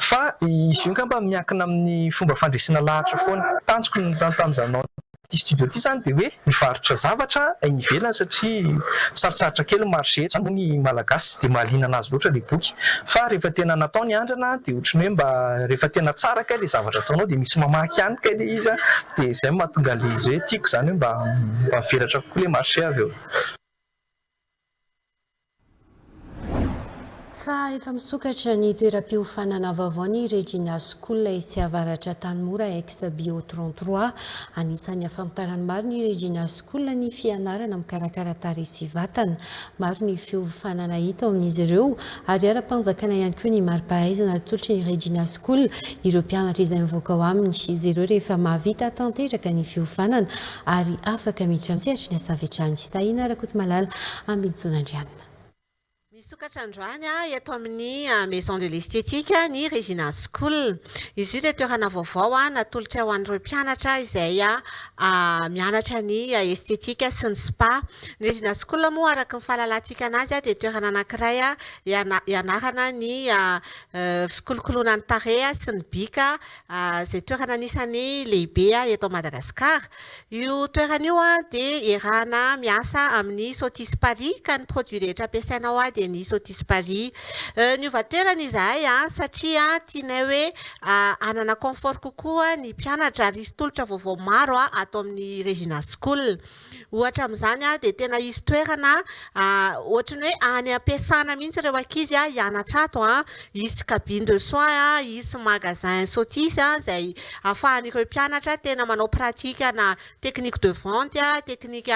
Fa izy io angamba miankina amin'ny fomba fandresena lahatra foana. Tanjoko ny nitantanizanao ity studio ity izany dia hoe mivarotra zavatra any ivelany satria sarotsarotra kely ny marché eto, izany moa ny Malagasy tsy dia mahaliana an'azy loatra ilay boky. Fa rehefa tena natao ny andrana dia ohatran'ny hoe mba rehefa tena tsara kay ilay zavatra ataonao dia misy mamaky ihany kay ilay izy dia izay no mahatonga an'ilay izy hoe tiako izany hoe mba mivelatra kokoa ilay marché avy eo. Fa efa misokatra ny toeram-piofanana vaovao ny Regina School etsy avaratra Antanimora ex Bio 33. Anisan'ny ahafantaran'ny maro ny Regina School ny fianarana mikarakara tarehy sy vatana. Maro ny fiofanana hita ao amin'izy ireo ary ara-panjakana ihany koa ny mari-pahaizana atolotry ny Regina School ireo mpianatra izay mivoaka ao aminy. Izy ireo rehefa mahavita tanteraka ny fiofanana ary afaka miditra amin'ny sehatry ny asa avy hatrany. Tahina Rakotomalala Ambintsonandrianina. Misokatra androany eto amin'ny Maison de l'Esthétique ny Regina School. Izy io dia toerana vaovao natolotra ho an'ireo mpianatra izay mianatra ny Esthétique sy ny Spa. Ny Regina School moa araka ny fahalalantsika an'azy dia toerana anankiray hianarana ny fikolokoloana ny tarehy sy ny bika. izay toerana anisan'ny lehibe eto Madagasikara. Io toerana io dia erahana miasa amin'ny Sotis Paris ka ny produit rehetra ampiasaina ao dia ny Sotis Paris. Niova toerana izahay satria tianay hoe hanana confort kokoa ny mpianatra ary hisy tolotra vaovao maro ato amin'ny Regina School. Ohatra amin'izany dia tena hisy toerana ohatry ny hoe any am-piasana mihitsy ireo ankizy hianatra ato. Hisy cabine de soins, hisy magasin sothis izay ahafahan'ireo mpianatra tena manao pratique na technique de vente, technique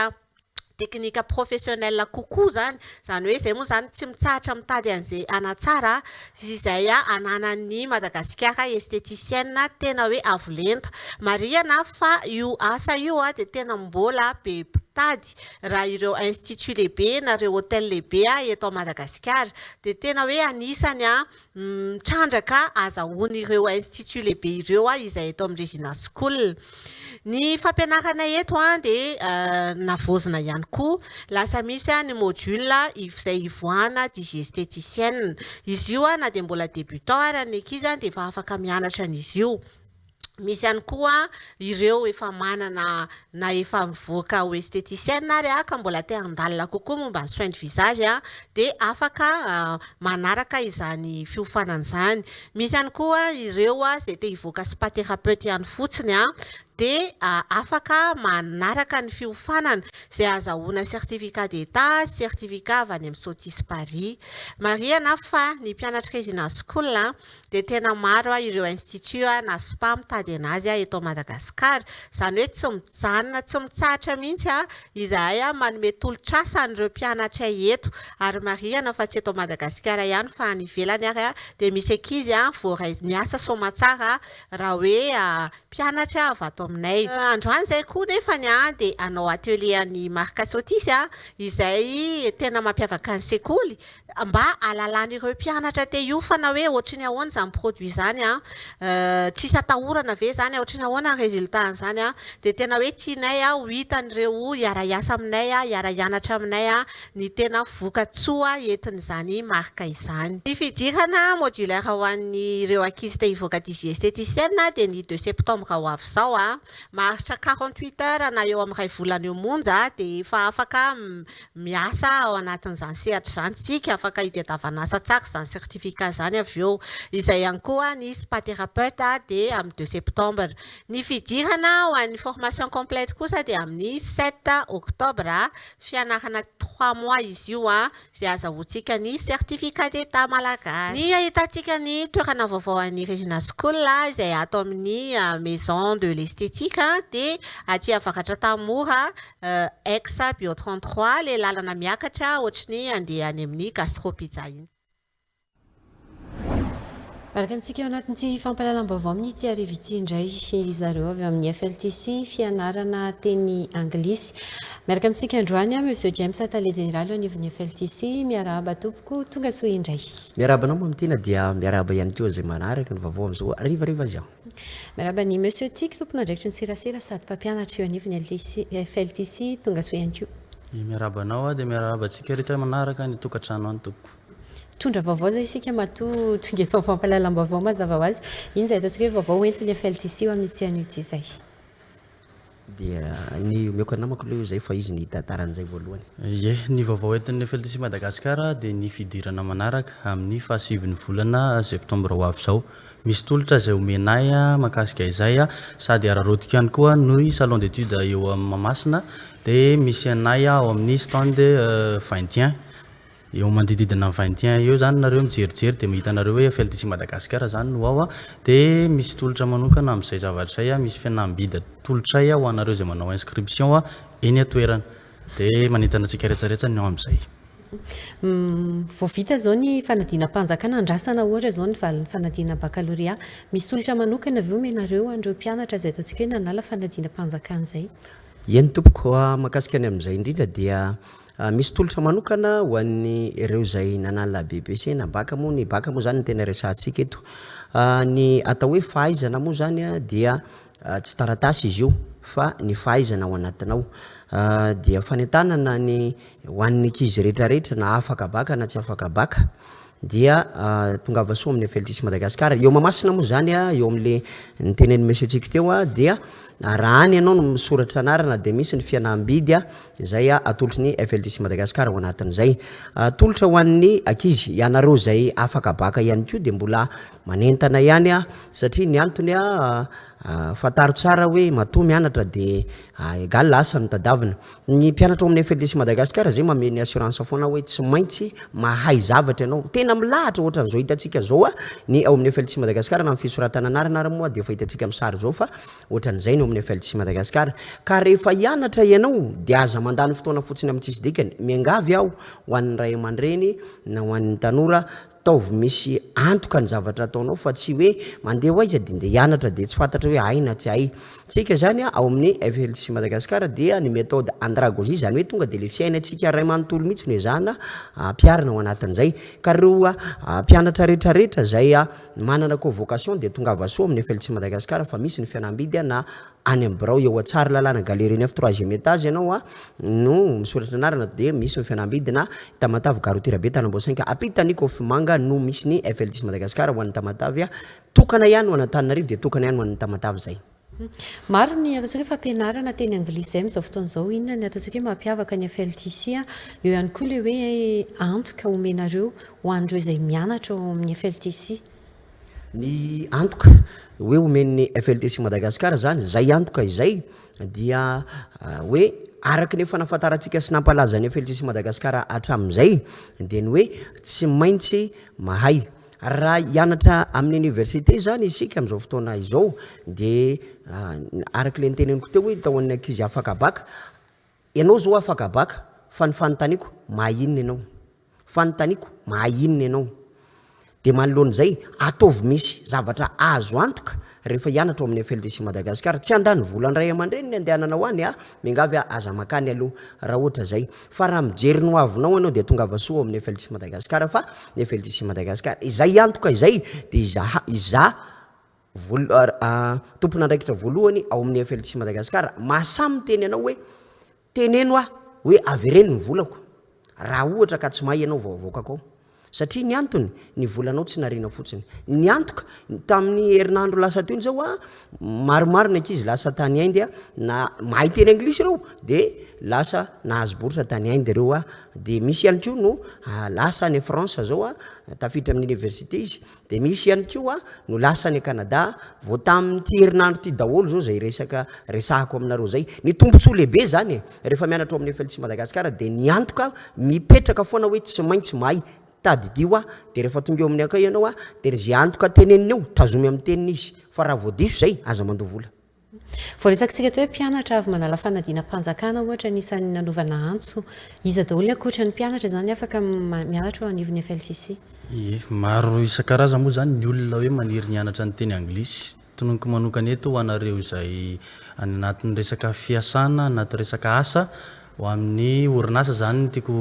technique professionnelle kokoa izany. Izany hoe izay moa izany tsy mitsahatra mitady an'izay hanatsara Izay ananan'ny Madagasikara esteticienne tena hoe avo lenta. Marihana fa io asa io dia tena mbola be mpitady raha ireo instituts lehibe na ireo hotels lehibe eto à Madagasikara dia tena hoe anisany mitrandraka azahoan'ireo instituts lehibe ireo izay eto amin'ny Regina School. Ny fampianarana eto dia navaozina ihany koa. Lasa misy ny module izay ivoahana digiesteticienne. Izy io na dia mbola débutant ary ny ankizy dia efa afaka mianatra an'izy io. Misy ihany koa ireo efa manana na efa mivoaka ho esthéticienne ary ka mbola te handalina kokoa momba ny soins du visage dia afaka manaraka izany fiofanana izany. Misy ihany koa ireo izay te hivoaka spa thérapeute ihany fotsiny dia afaka manaraka ny fiofanana izay ahazahoana certificat d'état sy certificat avy any amin'ny Sotis Paris. Marihana fa ny mpianatry Residence School dia tena maro ireo institut na spa mitady an'azy eto Madagasikara, izany hoe tsy mijanona, tsy mitsahatra mihitsy Izahay manome tolotr'asa an'ireo mpianatray eto ary marihana fa tsy eto Madagasikara ihany fa any ivelany ary dia misy ankizy voaray miasa soamatsara raha hoe mpianatra avy ato aminay. Androany izay koa nefa dia hanao atelier an'i Marc Sotisy izay tena mampiavaka ny sekoly Mba hahalalan'ireo mpianatra te hiofana hoe ohatry ny ahoana izany produit izany an, tsisy atahorana ve izany an, ohatry ny ahoana ny résultat an'izany an, dia tena hoe tianay ho hitan'ireo hiara-hiasa aminay, hiara-hianatra aminay ny tena vokatsoa entin'izany marika izany. Ny fidirana modulaire ho an'ireo ankizy te hivoaka digie esthéticienne dia ny deux septembre ho avy izao. Maharitra quarante-huit heures na eo amin'ny iray volana eo monja dia efa afaka Miasa ao anatin'izany sehatra izany isika, afaka hitadiavana asa tsara izany certificat izany avy eo. Izay ihany koa ny spa thérapeute dia amin'ny deux septembre. Ny fidirana ho an'ny formation complète kosa dia amin'ny sept octobre, fianarana trois mois izy io izay azahoantsika ny certificat d'état malagasy. Ny ahitantsika ny toerana vaovao an'ny Regina School izay ato amin'ny maison de l'esthétique dia aty avaratra Tanimora Ex bio trente trois le lalana miakatra ohatry ny andeha any amin'ny gastro pizza iny. Araka antsika ao anatin'ity fampahalalam-baovao amin'ny tsiarivo ity indray ry zareo avy amin'ny FLTC fianarana teny anglisy. Miaraka amintsika androany an, Monsieur James Tale Jeneraly eo anivon'ny FLTC. Miarahaba tompoko, tonga soa indray. Miarahaba anao Mamy Tina dia miarahaba ihany koa izay manaraka ny vaovao amin'izao harivariva izao. Miarahaba an'i Monsieur Tiky, tompon'andraikitry ny serasera sady mpampianatra eo anivon'ny LTC, FLTC, tongasoa ihany koa. Miarahaba anao aho dia miarahaba antsika rehetra manaraka any an-tokantrano any tompoko. Mitondra vaovao izay isika matoa tonga eto amin'ny fampahalalam-baovao mazava ho azy. Inona izay ataontsika hoe vaovao hoentin'ny FLTC eo amin'ity anio ity izay? Dia ny omeko anamako aloha io izay fa izy nihita taran'izay voalohany. Ie, ny vaovao entin'ny FLTC Madagascar dia ny fidirana manaraka amin'ny fahasivin'ny volana septembre ho avy izao. Misy tolotra izay omena ahy mahakasika izay sady araraotiko ihany koa ny salon d'études eo Mahamasina dia misy anay ao amin'ny stand 21. Eo manodididina ny vingt et un eo zany nareo mijerijery de mahita anareo hoe Eiffel d'ici Madagascar zany no ao a, de misy tolotra manokana amzay zavatra zay a, misy fihenam-bidy atolotray ho anareo zay manao inscription a eny an-toerana, de manentana antsika retsaretsany ny ao amzay. Vao vita zao ny fanadinam-panjakana, andrasana ohatra zao ny valin'ny fanadinana baccalauréat, misy tolotra manokana ve omenareo an'ireo mpianatra zay ataontsika hoe nanala fanadinam-panjakana zay? Eny tompoko, mahakasika ny amzay indrindra dia Misy tolotra manokana ho an'ny ireo izay nanala BEPC na bac moa ny bac moa zany no tena resahantsika eto. Ny atao hoe fahaizana moa zany dia tsy taratasy izy io fa ny fahaizana ao anatinao. Dia fanentanana ny ho an'ny ankizy rehetra rehetra na afaka bac na tsy afaka bac. Dia tongava soa amin'ny Feltisi Madagascar. Eo Mahamasina moa izany, eo amin'ilay nitenenin'i Monsieur Chico teo, dia raha any ianao no misoratra anarana dia misy ny fihenam-bidy izay atolotry ny Feltisi Madagascar ao anatin'izay. Atolotra ho an'ny ankizy, ianareo izay afaka baka ihany koa dia mbola manentana ihany satria ny antony Fantaro tsara hoe matoa mianatra de egal asa no tadavina. Ny mpianatra ao amin'ny FLDC Madagascar zay mamehy ny assurance foana hoe tsy maintsy mahay zavatra ianao. Tena milahatra ohatran'izao hitantsika zao a, ny ao amin'ny FLDC Madagascar na amin'ny fisoratana anarana ary moa dia efa hitantsika amin'ny sary zao fa ohatran'izay ny ao amin'ny FLDC Madagascar. Ka rehefa hianatra ianao de aza mandany fotoana fotsiny amin'ny tsisy dikany. Miangavy aho ho an'ny ray aman-dreny na ho an'ny tanora Ataovy misy antoka ny zavatra ataonao fa tsy hoe mandeha ho aiza dia ndeha hianatra dia tsy fantatra hoe hay na tsy hay. Tsika izany a, ao amin'ny FLTC Madagascar dia ny méthode andragogie izany hoe tonga dia ilay fiainantsika iray manontolo mihitsy no ezahana ampiharina ao anatin'izay. Ka ireo mpianatra rehetra rehetra izay manana convocation dia tongava soa amin'ny FLTC Madagascar fa misy ny fianambidy na any amin'ny birao eo Tsaralalana galerie neuf troisième étage ianao a no misoratra anarana dia misy ny fianambidina Tamatave gare routière be Tanambao cinq ampitan'ny Kofimanga no misy ny FLDIS Madagascar ho an'ny Tamatave a tokana ihany ho an'Antananarivo dia tokana ihany ho an'ny Tamatave zay. Maro ny ataontsika hoe fampianarana teny anglisy izay amin'izao fotoana izao, inona ny ataontsika hoe mampiavaka ny FLDIS a? Eo ihany koa ilay hoe antoka omenareo ho an'ireo izay mianatra ao amin'ny FLDIS. ny antoka hoe omen'ny FLTC Madagascar izany, izay antoka izay dia hoe araka ny efa nafantarantsika sy nampalazan'ny FLTC Madagascar hatramin'izay dia ny hoe tsy maintsy mahay raha hianatra amin'ny université izany isika amin'izao fotoana izao dia ah, araka ilay niteneniko teo hoe tao amin'ny ankizy afaka baka ianao izao afaka baka fa ny fanontaniako mahay inona ianao Fanontaniako, mahay inona ianao? Dia manoloana izay, ataovy misy zavatra azo antoka rehefa hianatra ao amin'ny FLDC Madagascar. Tsy handany vola an-dRay aman-dReny ny andehananao any a! Miangavy aho, aza mankany aloha raha ohatra izay. Fa raha mijery ny hoavinao ianao dia tongava soa ao amin'ny FLDC Madagascar fa ny FLDC Madagascar izay antoka izay dia izaha, izaho voal, tompon'andraikitra voalohany ao amin'ny FLDC Madagascar mahasahy miteny anao hoe Teneno aho hoe avereno ny volako raha ohatra ka tsy mahay ianao vao avoakako ao. Satria ny antony, ny volanao tsy nariana fotsiny. Ny antoka, tamin'ny herinandro lasa teo izao, maromaro ny ankizy lasa tany Inde, na mahay teny anglisy ireo, dia lasa nahazo bourse tany Inde ireo, dia misy ihany koa no lasa any France izao, tafiditra amin'ny université izy, Dia misy ihany koa no lasa any Canada, vao tamin'ity herinandro ity daholo izao izay resaka resahako aminareo izay. Ny tombontsoa lehibe izany e! Rehefa mianatra ao amin'ny FLC Madagascar dia ny antoka mipetraka foana hoe tsy maintsy mahay, tadidio aho, dia rehefa tonga eo amin'ny accueil ianao dia izay antoka teneniny eo, tazomy amin'ny teniny izy, fa raha vao diso izay, aza mandoa vola. Voaresakitsika teo hoe mpianatra avy manala fanadinam-panjakana ohatra ny isan'ny nanaovana antso. Iza daholo ny ankoatra ny mpianatra izany afaka mianatra eo anivon'ny FLTC? Ie, maro isan-karazany moa izany ny olona hoe maniry ny hianatra ny teny anglisy. Tononiko manokana eto ho anareo izay any anatin'ny resaka fiasana, anaty resaka asa, Ho amin'ny orinasa izany no tiako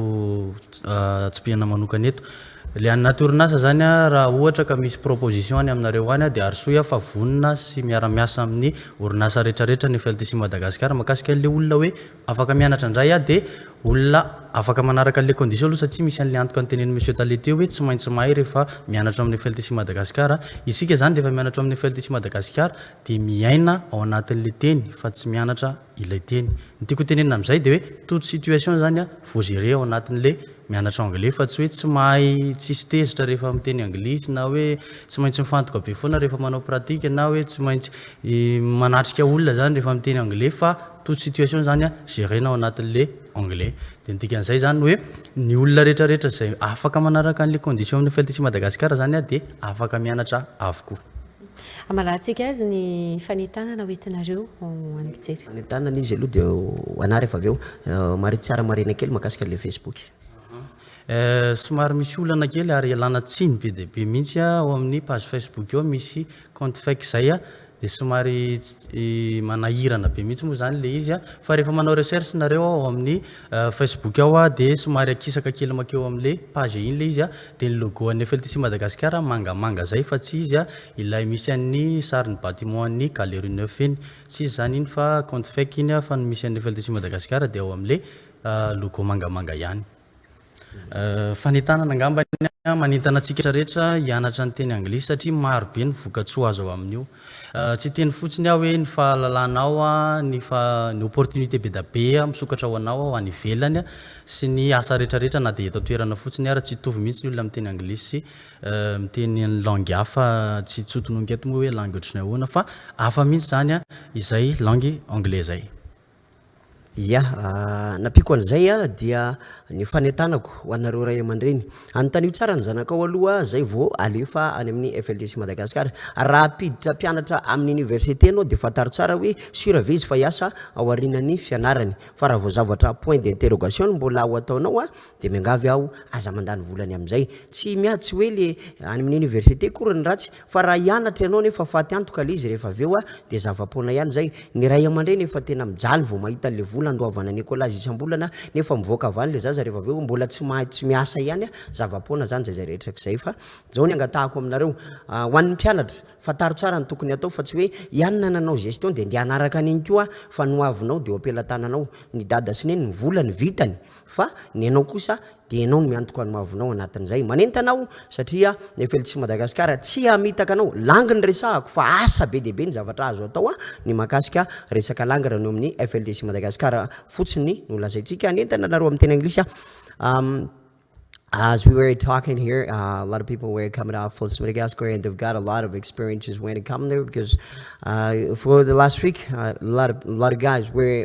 tsipihana manokana eto. Ilay any anaty orinasa izany raha ohatra ka misy proposition any aminareo any dia arosoy aho fa vonona sy miara miasa amin'ny orinasa rehetrarehetra ny FLTC Madagascar makasika an'ilay olona hoe afaka mianatra indray aho dia olona afaka manaraka an'ilay condition aloha satria misy an'ilay antoka notenenin'i Monsieur Tale teo hoe tsy maintsy mahay rehefa mianatra ao amin'ny FLTC Madagascar. Isika izany rehefa mianatra ao amin'ny FLTC Madagascar dia miaina ao anatin'ilay teny fa tsy mianatra ilay teny. Ny tiako hotenenina amin'izay dia hoe toute situation zany a faut gérer ao anatin'le mianatra anglais fa tsy hoe tsy mahay tsisy tezitra rehefa miteny anglisy na hoe tsy maintsy mifantoka be foana rehefa manao pratique na hoe tsy maintsy manatrika olona zany rehefa miteny anglais fa toute situation zany a gérer-na ao anatin'le anglais. Dia ny dikan'izay zany hoe ny olona rehetrarehetra izay afaka manaraka an'le condition-n'ny FLTC Madagascar zany a dia afaka mianatra avokoa. Amalahantsika azy ny fanentanana hoentinareo ho an'ny mpijery. Fanentanana izy aloha dia ho anah rehefa avy eo. Mariho tsara marihina kely mahakasika an'ilay Facebook. Somary misy olana kely ary ialana tsiny be dia be mihitsy ao amin'ny page Facebook ao misy compte fake izay dia somary manahirana be mihitsy moa izany ilay izy fa rehefa manao recherche nareo ao amin'ny Facebook ao a dia somary akisaka kely makeo amle page iny le izy a dia ny logo an'ny FLTC Madagascar mangamanga zay fa tsy izy a ilay misy an'ny sarin'ny bâtiment an'ny galerie neuf iny tsy izy zany iny fa compte fake iny a fa ny misy an'ny FLTC Madagascar dia ao amle logo mangamanga ihany fanentanana angambany a manentana antsika rehetra hianatra ny teny anglisy satria maro be ny vokatsoa azo avy amin'io. Tsy hiteny fotsiny aho hoe ny fahalalanao, ny ny opportunité bedabe misokatra ho anao ao any ivelany sy ny asa retraretra na dia eto an-toerana fotsiny ara. Tsy hitovy mihitsy ny olona miteny anglisy sy miteny ny langue hafa. Tsy tsy ho tononiko eto moa hoe langue ohatran'ny ahoana fa hafa mihitsy izany izay langue anglais izay. Ia, nampiako an'izay dia ny fanentanako ho anareo ray aman-dreny, anontanio tsara ny zanakao aloha zay vao alefa any amin'ny FLDC Madagascar, raha hampiditra mpianatra amin'ny université ianao dia fantaro tsara hoe sur ve izy fa hiasa ao aorianan'ny fianarany, fa raha vao zavatra point d'interrogation no mbola ho ataonao Dia miangavy aho aza mandany vola any amin'izay. Tsy miady tsy hoe le any amin'ny université akory ny ratsy fa raha hianatra ianao nefa faty antoka le izy rehefa avy eo dia zava-poana ihany izay. Ny ray aman-dreny efa tena mijaly vao mahita an'le vola andoavana any écolage isam-bolana nefa mivoaka avy any le zaza rehefa avy eo mbola tsy mahay tsy miasa ihany zava-poana izany izay izay rehetra k'izay fa izao ny angatahako aminareo ho an'ny mpianatra fantaro tsara ny tokony hatao fa tsy hoe iany na nanao gestion dia ndeha hanaraka an'iny koa fa ny ho avinao dia eo am-pelatananao ny dada sy neny ny volany vitany Fa ny anao kosa dia ianao no miantoka ny mahavonao anatin'izay. Manentana aho satria ny FLC Madagasikara tsy hamitaka anao. Langy ny resahako fa asa be dia be ny zavatra azo atao ny mahakasika resaka langy raha ny eo amin'ny FLDC Madagasikara fotsiny no lazaintsika. Hanentana anareo amin'ny teny anglisy aho. As we were talking here, uh, a lot of people were coming out from Madagascar and they've got a lot of experiences when it comes there because uh, for the last week, uh, a lot of a lot of guys were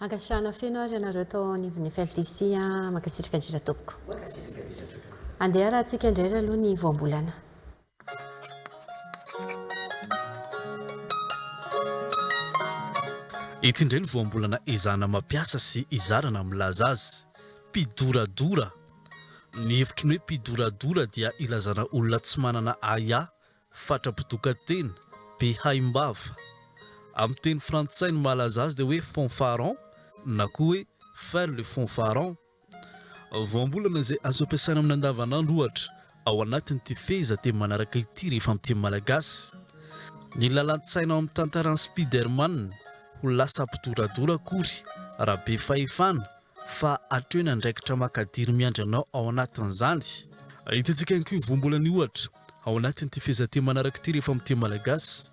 Ankasitrahana feno ary ianareo tao anivon'ny FLTC a! Mankasitraka indrindra tompoko. Mankasitraka indrindra tompoko. Andeha raha tsika indray ry aloha ny voambolana. Ity indray ny voambolana ezahana mampiasa sy izarana milaza azy. Mpidoradora. Ny hevitry ny hoe mpidoradora dia ilazana olona tsy manana ahiahy Fatra-pidokan-tena, be haim-bava. Amin'ny teny frantsay ny mahalaza azy dia hoe fanfaron na koa hoe faire le fanfaron. Voambolana izay azo ampiasaina amin'ny andavanandro ohatra ao anatin'ity fehezanteny manaraka ity rehefa amin'ny teny malagasy. Ny lalan-tsaina ao amin'ny tantaran'i Spiderman ho lasa mpidoradora akory raha be fahefana fa hatreo ny andraikitra makadiry miandry anao ao anatin'izany. Hitantsika ihany koa io voambolana io ohatra Ao anatin'ity fehezanteny manaraka ity rehefa miteny malagasy,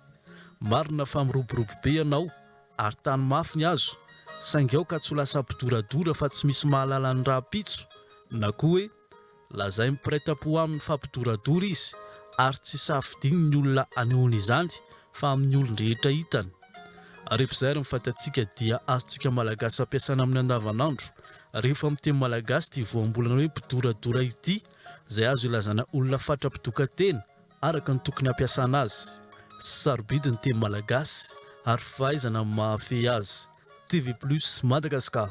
marina fa miroborobo be ianao ary tano mafy ny hazo saingy aoka tsy ho lasa mpidoradora fa tsy misy mahalala ny rahampitso na koa hoe lazain'ny mpiray tampo aminy fa mpidoradora izy ary tsy safidiany ny olona anehoany izany fa amin'ny olon-drehetra hitany. Rehefa izay ary ny fahitantsika dia azontsika malagasy ampiasaina amin'ny andavanandro rehefa miteny malagasy ity voambolana hoe mpidoradora ity. izay azo ilazana olona fatra mpitoka-tena araka ny tokony hampiasana azy sy sarobidy ny teny malagasy ary fahaizana amin'ny mahafehy azy. TV Plus Madagascar.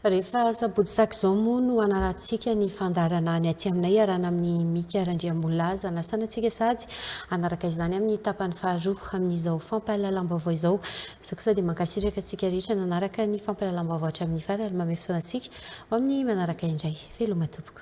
Rehefa sabotsy tahaka izao moa no hanarantsika ny fandaharana ny aty aminay iarahana amin'i Mika Randriamolaza. Hanasana antsika sady hanaraka izany amin'ny tapany faharoa amin'izao fampahalalam-baovao izao. Izao kosa dia mankasitraka antsika rehetra nanaraka ny fampahalalam-baovao hatramin'ny farany ary mamehy fotoana antsika ho amin'ny manaraka indray. Veloma tompoko.